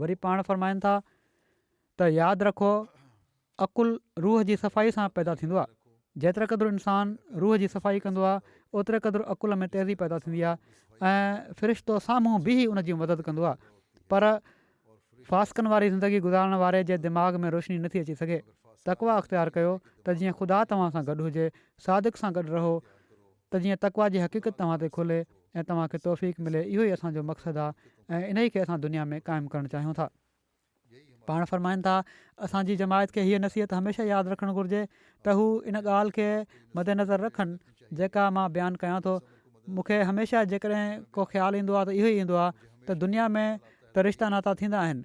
وري پاڻ فرمائن ٿا ته ياد رکو عقل روح جي صفائي سان پيدا ٿيندو آهي جيتري قدر انسان روح جي صفائي ڪندو آهي اوتري قدر عقل ۾ تيزي پيدا ٿيندي آهي ۽ فرشتو سامهون بيهي ان جي مدد ڪندو آهي پر فاسقن واري زندگي گذارڻ واري جي دماغ ۾ روشني نٿي اچي سگهي تقوا اختيار ڪيو ته جيئن خدا توهان سان گڏ هجي صادق سان گڏ رهو ته جيئن تقويٰ جي حقيقت توهان تي کلي ۽ توهان کي توفيق ملي اهو ئي اسان جو مقصد آهي ۽ انهي کي اسان دنيا ۾ قائم ڪرڻ چاهيون ٿا. پاڻ فرمائن ٿا اسان جي جماعت کي هيء نصيحت هميشه ياد رکڻ گهرجي ته هو ان ڳالهه کي مد نظر رکن جيڪا مان بيان ڪيان ٿو مون کي هميشه جيڪڏهن ڪو خيال ايندو آهي ته اهو ئي ايندو آهي ته دنيا ۾ ته رشتا ناتا ٿيندا آهن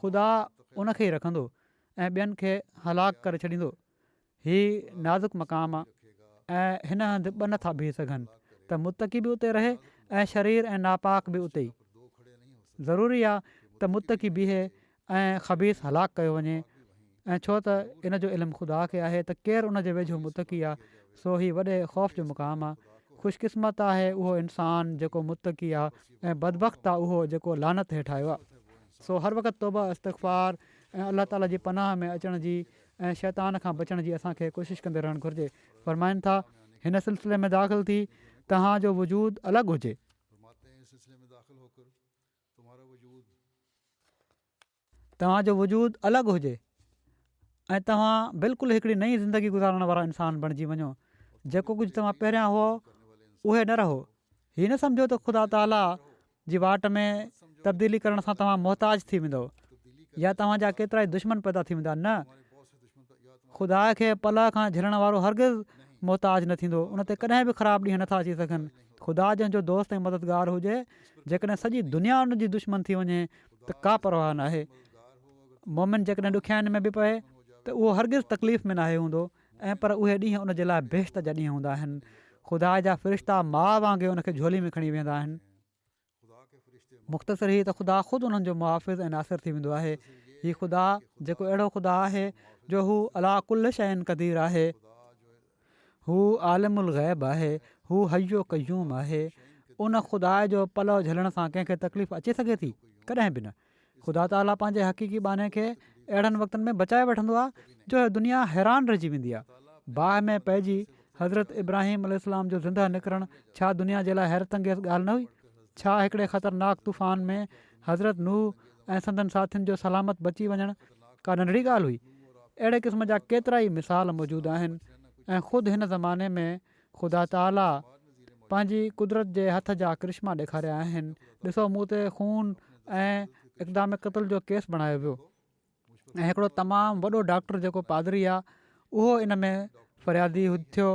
خدا ان کي ئي رکندو ۽ ٻين کي هلاڪ ڪري ڇڏيندو. هي نازڪ مقام آ ۽ هن هنڌ ٻه نٿا بيهي سگهن ته متقي به اتي رهي ۽ شرير ۽ ناپاڪ به اتي ئي. ضروري آ ته متقي بيهي ۽ خبيث هلاڪ ڪيو وڃي. ۽ ڇو ته ان جو علم خدا کي آهي ته ڪير ان جي ويجهو متقي آهي سو هي وڏي خوف جو مقام آهي خوش قسمت آهي اهو انسان جيڪو متقي آهي ۽ بدبخت آهي اهو جيڪو لعنت هيٺ آيو آهي. سو هر وقت توبه استغفار ۽ الله تعالي جي پناهه ۾ اچڻ جي ۽ شيطان کان بچڻ جي اسان کي ڪوشش ڪندي رهڻ گهرجي فرمائن ٿا هن سلسلي ۾ داخل ٿي توهان جو وجود الڳ هجي. توهان جو وجود الڳ هجي ۽ توهان بلڪل هڪڙي نئين زندگي گذارڻ وارا انسان بڻجي وڃو جيڪو ڪجهه توهان پهريان هئو اهي نه رهو هي نه سمجهو ته خدا تعاليٰ جي واٽ ۾ تبديلي ڪرڻ سان توهان محتاج ٿي ويندو يا توهان جا ڪيترا ئي دشمن پيدا ٿي ويندا نه خدا کي پلهه کان جهلڻ وارو هرگز محتاج نه ٿيندو ان تي ڪڏهن به خراب ڏينهن نٿا اچي سگهن خدا جنهن جو دوست ۽ مددگار هجي جيڪڏهن سڄي دنيا ان جي دشمن ٿي وڃي ته ڪا پرواهه ناهي. مؤمن جيڪڏهن ڏکيائين ۾ به پوي ته اهو هرگز تڪليف ۾ ناهي هوندو ۽ پر اهي ڏينهن ان جي لاء بهشت جا ڏينهن هوندا آهن. خدا جا فرشتا ماء وانگي ان کي جهولي ۾ کڻي ويهندا آهن. مختصر هي ته خدا خود انهن جو محافظ ۽ ناصر ٿي ويندو آهي. هي خدا جيڪو اهڙو خدا آهي جو هو عليٰ ڪل شيء قدير آهي. هو عالم الغيب آهي، هو حي و قيوم آهي، ان خدا جو پلئو جهلڻ سان ڪنهن کي تڪليف اچي سگهي ٿي؟ ڪڏهن به نه. خدا تعاليٰ پنهنجي حقيقي ٻانهي کي اهڙن وقتن ۾ بچائي وٺندو آهي جو دنيا حيران رهجي ويندي آهي. باهه ۾ پئجي حضرت ابراهيم عليه السلام جو زندهه نڪرڻ ڇا دنيا جي لاء حيرت انگيز ڳالهه نه هئي؟ ڇا هڪڙي خطرناڪ طوفان ۾ حضرت نوح ۽ سندن ساٿين جو سلامت بچي وڃڻ ڪا ننڍڙي ڳالهه هئي. اهڙي قسم جا ڪيترائي مثال موجود آهن ۽ خود هن زماني ۾ خدا تعاليٰ پنهنجي قدرت جي هٿ جا ڪرشما ڏيکاريا آهن، ڏسو مون تي خون ۽ اقدام قتل جو ڪيس بڻايو ويو. ۽ هڪڙو تمام وڏو ڊاڪٽر جيڪو پادري آ اهو ان ۾ فريادي ٿيو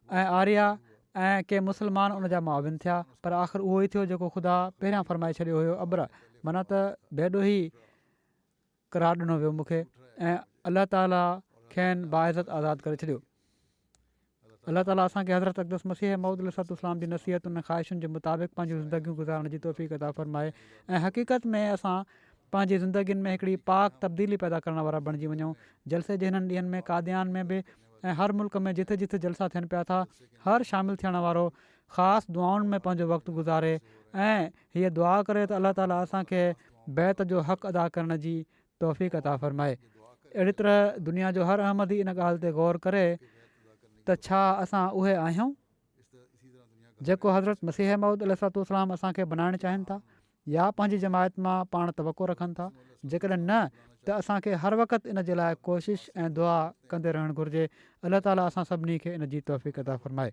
۽ آريا ۽ ڪي مسلمان ان جا معاون ٿيا پر آخر اهو ئي ٿيو جيڪو خدا پهريان فرمائي ڇڏيو هيو ابره معنيٰ ته بي ڏوهي قرار ڏنو ويو مون کي ۽ الله تعالي کين باعزت آزاد ڪري ڇڏيو الله تعالي اسان کي حضرت اقدس مسيح موعود عليه الصلوة والسلام جي نصيحتن ۽ خواهشن جي مطابق پنهنجون زندگيون گذارڻ جي توفيق عطا فرمائي ۽ حقيقت ۾ اسان پنهنجي زندگين ۾ هڪڙي پاڪ تبديلي پيدا ڪرڻ وارا بڻجي وڃون جلسي جي هنن ڏينهن ۾ قاديان ۾ به ۽ هر ملڪ ۾ جٿي جٿي جلسا ٿين پيا ٿا هر شامل ٿيڻ وارو خاص دعائن ۾ پنهنجو وقت گذاري ۽ هيء دعا ڪري ته الله تعالي اسان کي بيعت جو حق ادا ڪرڻ جي توفيق عطا فرمائي. اهڙي طرح دنيا جو هر احمدي ان ڳالهه تي غور ڪري ته ڇا اسان اهي آهيون جيڪو حضرت مسيح موعود عليه الصلاة والسلام اسان کي بنائڻ چاهين ٿا يا پنهنجي جماعت مان پاڻ توقع رکن ٿا جيڪڏهن نه ته اسان کي هر وقت ان جي لاء ڪوشش ۽ دعا ڪندي رهڻ گهرجي الله تعالي اسان سڀني کي ان جي توفيق عطا فرمائي.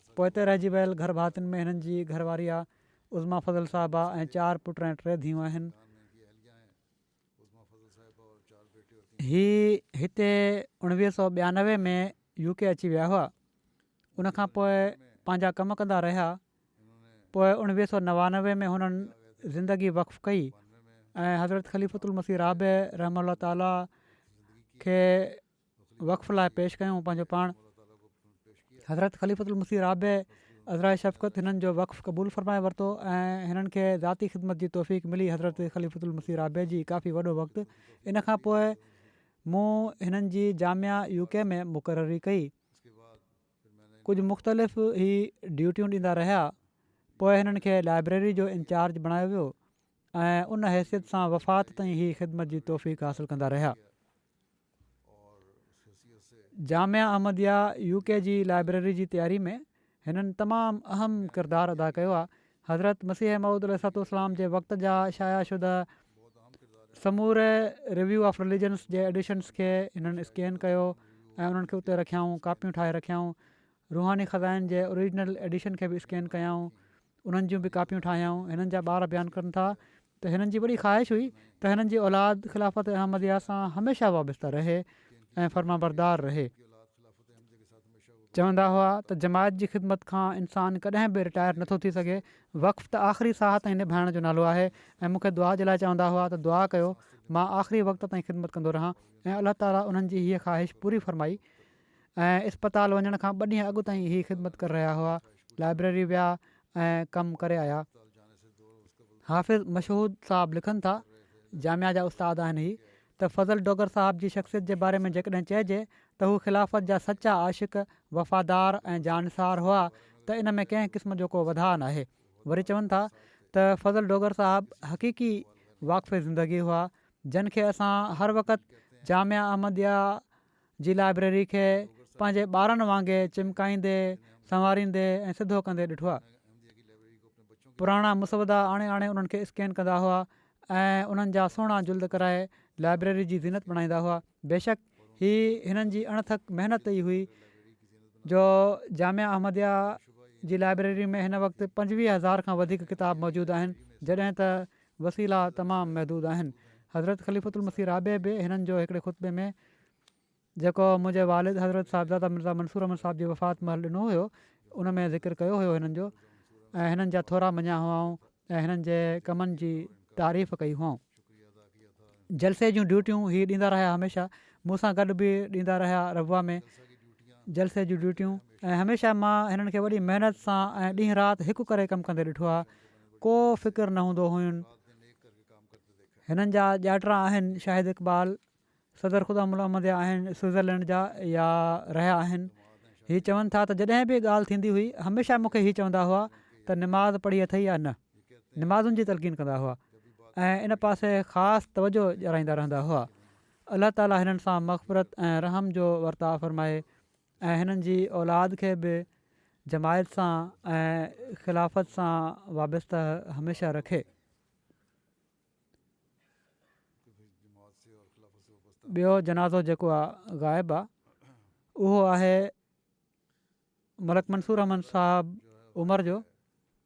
پوئتي رهجي ويل گهر ڀاتين ۾ هنن جي گهر واري آ عظميٰ فضل صاحبه ۽ چار پٽ ۽ ٽي ڌيئون آهن. هي هتي اوڻويهه سؤ ٻيانوي ۾ يو ڪي اچي ويا هئا ان کان پوء پنهنجا ڪم ڪندا رهيا پوء اوڻويهه سؤ نوانوي ۾ هنن زندگي وقف ڪئي ۽ حضرت خليفت المسيح رابع رحمه الله تعاليٰ کي وقف لاء پيش ڪيون پنهنجو پاڻ حضرت خليفة المسيح رابع عذرائي شفقت هنن جو وقف قبول فرمائي ورتو ۽ هنن کي ذاتي خدمت جي توفيق ملي حضرت خليفة المسيح رابع جي ڪافي وڏو وقت ان کان پوء مون هنن جي جامعه يو ڪي ۾ مقرري ڪئي ڪجهه مختلف هي ڊيوٽيون ڏيندا رهيا پوء هنن کي لائبريري جو انچارج بڻايو ويو ۽ ان حيثيت سان وفات تائين هي خدمت جي توفيق حاصل ڪندا رهيا جامع احمديه يو ڪي جي لائبريري جي تياري ۾ هنن تمام اهم ڪردار ادا ڪيو آهي. حضرت مسيح موعود عليه الصلوة والسلام جي وقت جا شايع شده سموري ريويو آف رليجنس جي ايڊيشنس کي هنن اسڪين ڪيو ۽ انهن کي اتي رکيائون ڪاپيون ٺاهي رکيائون روحاني خزائن جي اوريجنل ايڊيشن کي به اسڪين ڪيائون، انهن جون به ڪاپيون ٺاهيائون، هنن جا ٻار بيان ڪن ٿا ته هنن جي وڏي خواهش هئي ته هنن جي اولاد خلافت احمديه سان هميشه وابسته رهي ۽ فرمانبردار رهي. چوندا هئا ته جماعت جي خدمت کان انسان ڪڏهن به رٽائر نه ٿو ٿي سگهي، وقف ته آخري ساهه تائين نڀائڻ جو نالو آهي ۽ مون کي دعا جي لاء چوندا هئا ته دعا ڪيو مان آخري وقت تائين خدمت ڪندو رهان ۽ الله تعاليٰ انهن جي هيء خواهش پوري فرمائي ۽ اسپتال وڃڻ کان ٻه ڏينهن اڳ تائين هي خدمت ڪري رهيا هئا لائبريري ويا ۽ ڪم ڪري آيا حافظ مشهود صاحب لکن ٿا جامعا جا استاد آهن هي ته فضل ڊوگر صاحب جي شخصيت جي باري ۾ جيڪڏهن چئجي ته هو خلافت جا سچا عاشق وفادار ۽ جانثار هئا ته ان ۾ ڪنهن قسم جو ڪو وڌاء ناهي وري چون ٿا ته فضل ڊوگر صاحب حقيقي واقف زندگي هئا جن کي اسان هر وقت جامعا احمديا جي لائبريري کي پنهنجي ٻارن وانگي چمڪائيندي، سنواريندي ۽ سڌو ڪندي ڏٺو آهي. پراڻا مسودا آڻي آڻي انهن کي اسڪين ڪندا هئا ۽ انهن جا سهڻا جلد ڪرائي لائبريري جي زينت بڻائيندا هئا. بيشڪ هي هنن جي اڻ ٿڪ محنت ئي هئي جو جامعه احمديه جي لائبريري ۾ هن وقت پنجويهه هزار کان وڌيڪ ڪتاب موجود آهن جڏهن ته وسيلا تمام محدود آهن. حضرت خليفة المسيح رابع به هنن جو هڪڙي خطبي ۾ جيڪو منهنجي والد حضرت صاحبزاده مرزا منصور احمد صاحب جي وفات مهل ڏنو هيو ان ۾ ذڪر ڪيو هيو هنن جو ۽ هنن جا ٿورا مڃيا هئائون ۽ هنن جي ڪمن جي تعريف ڪئي هئائون. جلسي جون ڊيوٽيون هي ڏيندا رهيا هميشه مون سان گڏ به ڏيندا رهيا ربوه ۾ جلسي جون ڊيوٽيون ۽ هميشه مان هنن کي وڏي محنت سان ۽ ڏينهن رات هڪ ڪري ڪم ڪندي ڏٺو آهي. ڪو فڪر نه هوندو هئين. هنن جا ڄاٽرا آهن شاهد اقبال، صدر خدا ملا احمديا آهن سوئزرلينڊ جا يا رهيا آهن. هي چون ٿا ته جڏهن به ڳالهه ٿيندي هئي هميشه مون کي هي چوندا هئا ته نماز پڙهي اٿئي يا نه. نمازن جي تلقين ڪندا هئا ۽ ان پاسي خاص توجهه ڏيارائيندا رهندا هئا. الله تعالي هنن سان مغفرت ۽ رحم جو ورتاء فرمائي ۽ هنن جي اولاد کي به جماعت سان ۽ خلافت سان وابسته هميشه رکي. ٻيو جنازو جيڪو آ غائب آ اهو آهي ملڪ منصور احمد صاحب عمر جو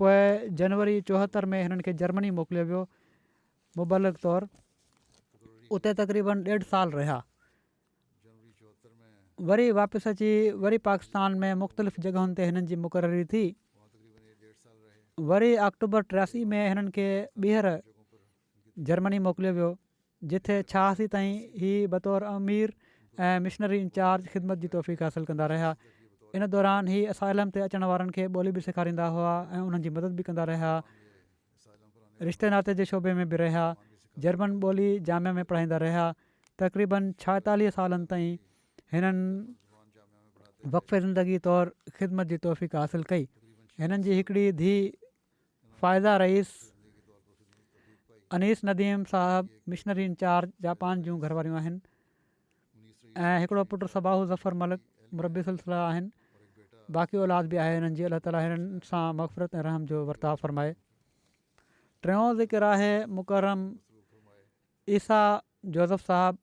پوء جنوري چوهتر ۾ هنن کي جرمني موڪليو ويو مبلغ طور اتي تقريبن ڏيڍ سال رهيا وري واپس اچي وري پاڪستان ۾ مختلف جڳهن تي هنن جي مقرري ٿي وري آڪٽوبر ٽياسي ۾ هنن کي ٻيهر جرمني موڪليو ويو جتي ڇهاسي تائين هي بطور امير ۽ مشنري انچارج خدمت جي توفيق حاصل ڪندا رهيا. ان دوران هي اسائلم تي اچڻ وارن کي ٻولي به سيکاريندا هئا ۽ انهن جي مدد به ڪندا رهيا. رشتي ناتي جي شعبي ۾ به رهيا. جرمن ٻولي جامعه ۾ پڙهائيندا رهيا. تقريبن ڇائيتاليهه سالن تائين هنن وقف زندگي طور خدمت جي توفيق حاصل ڪئي. هنن جي هڪڙي ڌيء فائزه رئيس، انيس نديم صاحب مشنري انچارج جاپان جون گهرواريون آهن ۽ هڪڙو پٽ صباح ظفر ملڪ مربي سلسله آهن باقي اولاد به آهي هنن جي الله تعالي هنن سان مغفرت ۽ رحم جو ورتاء فرمائي ٽيون ذڪر آهي مڪرم عيسيٰ جوزف صاحب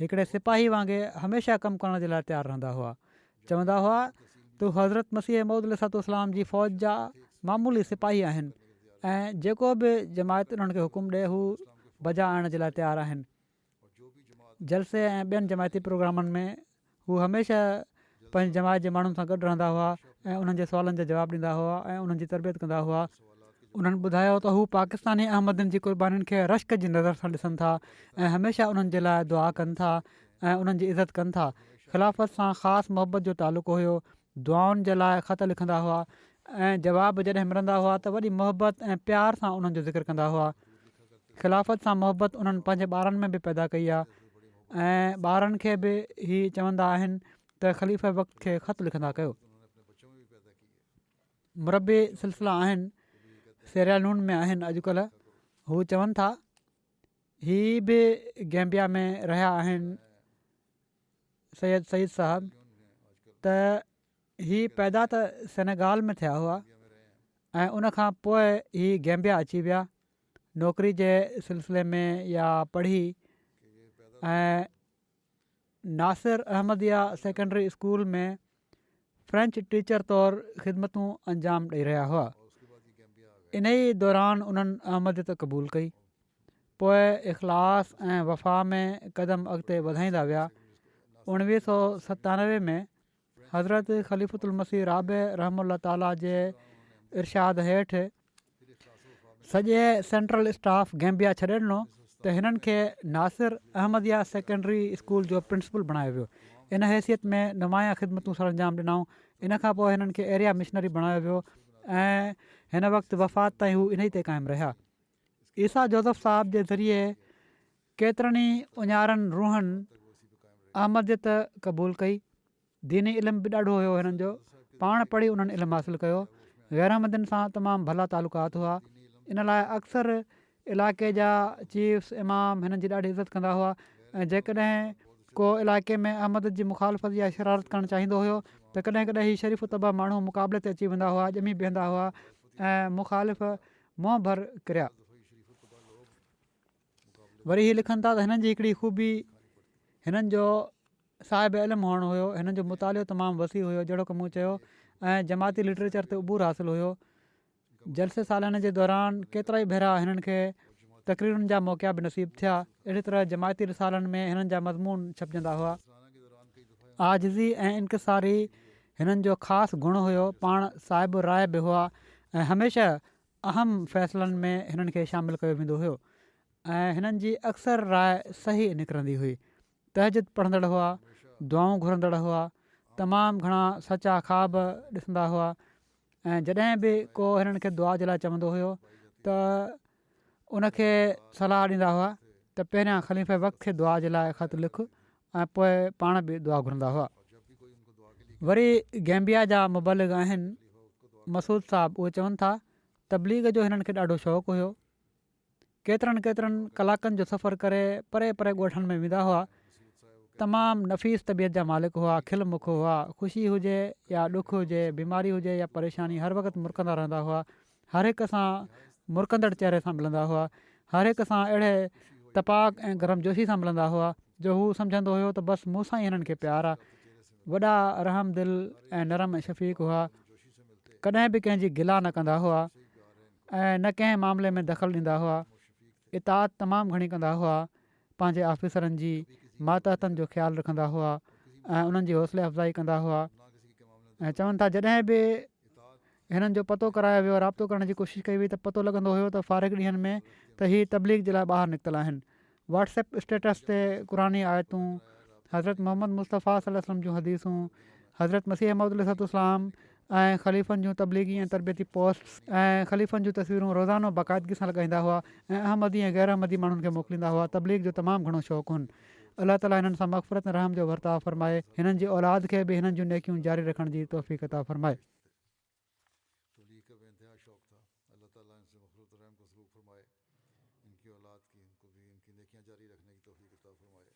هڪڙي سپاهي وانگي هميشه ڪم ڪرڻ جي لاء تيار رهندا هئا. چوندا هئا ته هو حضرت مسيح موعود عليه الصلوة والسلام جي فوج جا معمولي سپاهي آهن ۽ جيڪو به جماعت انهن کي حڪم ڏئي هو بجا آڻڻ جي لاء تيار آهن. جلسي ۽ ٻين جماعتي پروگرامن ۾ هو هميشه پنهنجي جماعت جي ماڻهن سان گڏ رهندا هئا ۽ انهن جي سوالن جا جواب ڏيندا هئا ۽ انهن جي تربيت ڪندا هئا. انهن ٻڌايو ته هو پاڪستاني احمدين جي قربانين کي رشڪ جي نظر سان ڏسن ٿا ۽ هميشه انهن جي لاء دعا ڪن ٿا ۽ انهن جي عزت ڪن ٿا. خلافت سان خاص محبت جو تعلق هيو دعائن جي لاء خط لکندا هئا ۽ جواب جڏهن ملندا هئا ته وڏي محبت ۽ پيار سان انهن جو ذڪر ڪندا هئا. خلافت سان محبت انهن پنهنجي ٻارن ۾ به پيدا ڪئي آهي ۽ ٻارن کي به هي چوندا آهن ته خليفه وقت کي خط لکندا ڪيو. مربي سلسلا آهن، سيريا لون ۾ آهن اڄڪلهه، هو چون ٿا، هي به گيمبيا ۾ رهيا آهن، سيد سعيد صاحب ته هي پيدا ته سينيگال ۾ ٿيا هئا ۽ ان کان پوء هي گيمبيا اچي ويا نوڪري جي سلسلي ۾ يا پڙهي ۽ Nasir Ahmadiyya secondary school ۾ French teacher طور خدمتون انجام ڏئي رهيا هئا انهي دوران انهن احمديت قبول ڪئي پوء اخلاص ۽ وفا ۾ قدم اڳتي وڌائيندا ويا اڻويهه سو ستانوي ۾ حضرت خليفت المسيح رابع رحم الله تعاليٰ جي ارشاد هيٺ سڄي سينٽرل اسٽاف گيمبيا ڇڏي ڏنو ته هنن کي ناصر احمديه سيڪنڊري اسڪول جو پرنسپل بڻايو ويو ان حيثيت ۾ نمايان خدمتون سرانجام ڏنائون ان کان پوء هنن کي ايريا مشنري بڻايو ويو ۽ هن وقت وفات تائين هو انهي تي قائم رهيا عيسيٰ جوزف صاحب جي ذريعي ڪيترن ئي اڃارن روحن احمديت قبول ڪئي ديني علم به ڏاڍو هيو هنن جو پاڻ پڙهي انهن علم حاصل ڪيو غيراحمدين سان تمام ڀلا تعلقات هئا ان لاء اڪثر علائقي جا چيفس امام هنن جي ڏاڍي عزت ڪندا هئا ۽ جيڪڏهن ڪو علائقي ۾ احمد جي مخالفت يا شرارت ڪرڻ چاهيندو هيو ته ڪڏهن ڪڏهن هي شريف الطبع ماڻهو مقابلي تي اچي ويندا هئا ڄمي بيهندا هئا ۽ مخالف منهن ڀر ڪريا وري هي لکن ٿا ته هنن جي هڪڙي خوبي هنن جو صاحب علم هئڻ هيو هنن جو مطالعو تمام وسيع هيو جهڙوڪ مون چيو ۽ جماعتي لٽريچر تي عبور حاصل هيو جلسي سالياني جي دوران ڪيترائي ڀيرا هنن کي تقريرن جا موقعا به نصيب ٿيا اهڙي طرح جماعتي رسالن ۾ هنن جا مضمون ڇپجندا هئا آجزي ۽ انڪساري هنن جو خاص گڻ هيو پاڻ صاحب راء به هئا ۽ هميشه اهم فيصلن ۾ هنن کي شامل ڪيو ويندو هيو ۽ هنن جي اڪثر راء صحيح نڪرندي هئي. تهجد پڙهندڙ هئا، دعائون گهرندڙ هئا، تمام گهڻا سچا خواب ڏسندا هئا ۽ جڏهن به ڪو هنن کي دعا جي لاء چوندو هيو ته ان کي صلاح ڏيندا هئا ته پهريان خليفه وقت کي دعا جي لاء خط لک ۽ پوء پاڻ به دعا گهرندا هئا. وري گيمبيا جا مبلغ آهن مسعود صاحب اهي چون ٿا تبليغ جو هنن کي ڏاڍو شوق هيو ڪيترن ڪيترن ڪلاڪن جو سفر ڪري پري پري ڳوٺن ۾ ويندا هئا تمام نفيس طبيعت جا مالڪ هئا کل مک هئا خوشي هجي يا ڏک هجي بيماري هجي يا پريشاني هر وقت مرڪندا رهندا هئا هر هڪ سان مرڪندڙ چهري سان ملندا هئا، هر هڪ سان اهڙي تپاڪ ۽ گرمجوشي سان ملندا هئا جو هو سمجهندو هيو ته بس مون سان ئي هنن کي پيار آ. وڏا رحم دل ۽ نرم ۽ شفيق هئا، ڪڏهن به ڪنهن جي گلا نه ڪندا هئا ۽ نه ڪنهن معاملي ۾ دخل ڏيندا هئا، اطاعت تمام گهڻي ڪندا هئا، پنهنجي آفيسرن جي ماتحتن جو خيال رکندا هئا ۽ انهن جي حوصلي افزائي ڪندا هئا ۽ چون ٿا جڏهن به هنن جو پتو ڪرايو ويو رابطو ڪرڻ جي ڪوشش ڪئي وئي ته پتو لڳندو هيو ته فارغ ڏينهن ۾ ته هي تبليغ جي لاء ٻاهر نڪتل آهن واٽس ايپ اسٽيٽس تي قرآني آيتون حضرت محمد مصطفيٰ صلي الله عليه وسلم جون حديثون حضرت مسيح موعود عليه الصلوۃ والسلام ۽ خليفن جون تبليغي ۽ تربيتي پوسٽس ۽ خليفن جون تصويرون روزانو باقاعدگي سان لڳائيندا هئا ۽ احمدي ۽ غير احمدي ماڻهن کي موڪليندا هئا تبليغ جو تمام گهڻو شوق هن الله تعاليٰ هنن سان مغفرت ۽ رحم جو ورتاء فرمائي هنن جي اولاد کي به هنن جون نيڪيون جاري رکڻ جي توفيق عطا فرمائي ٽولي ڪا بي انتها شوق ٿا الله تعالي ان سي مخلوط رحم کو سلوڪ فرمائي ان کي اولاد کي ان کو بي ان کي نيکيان جاري رکني کي توفيق عطا فرمائي.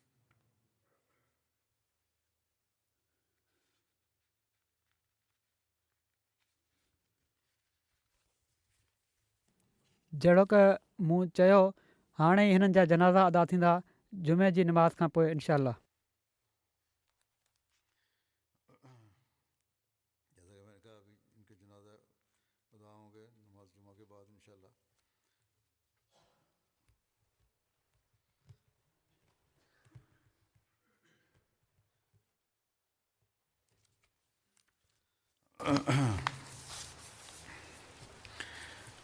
جهڙوڪ مون چيو هاڻي ئي هنن جا جنازا ادا ٿيندا جمعي جي نماز کان پوء انشاء الله. جيسا ڪي مين نے ڪها ابهي ان ڪي جنازه ادا هونگي نماز جمعه ڪي بعد انشاء الله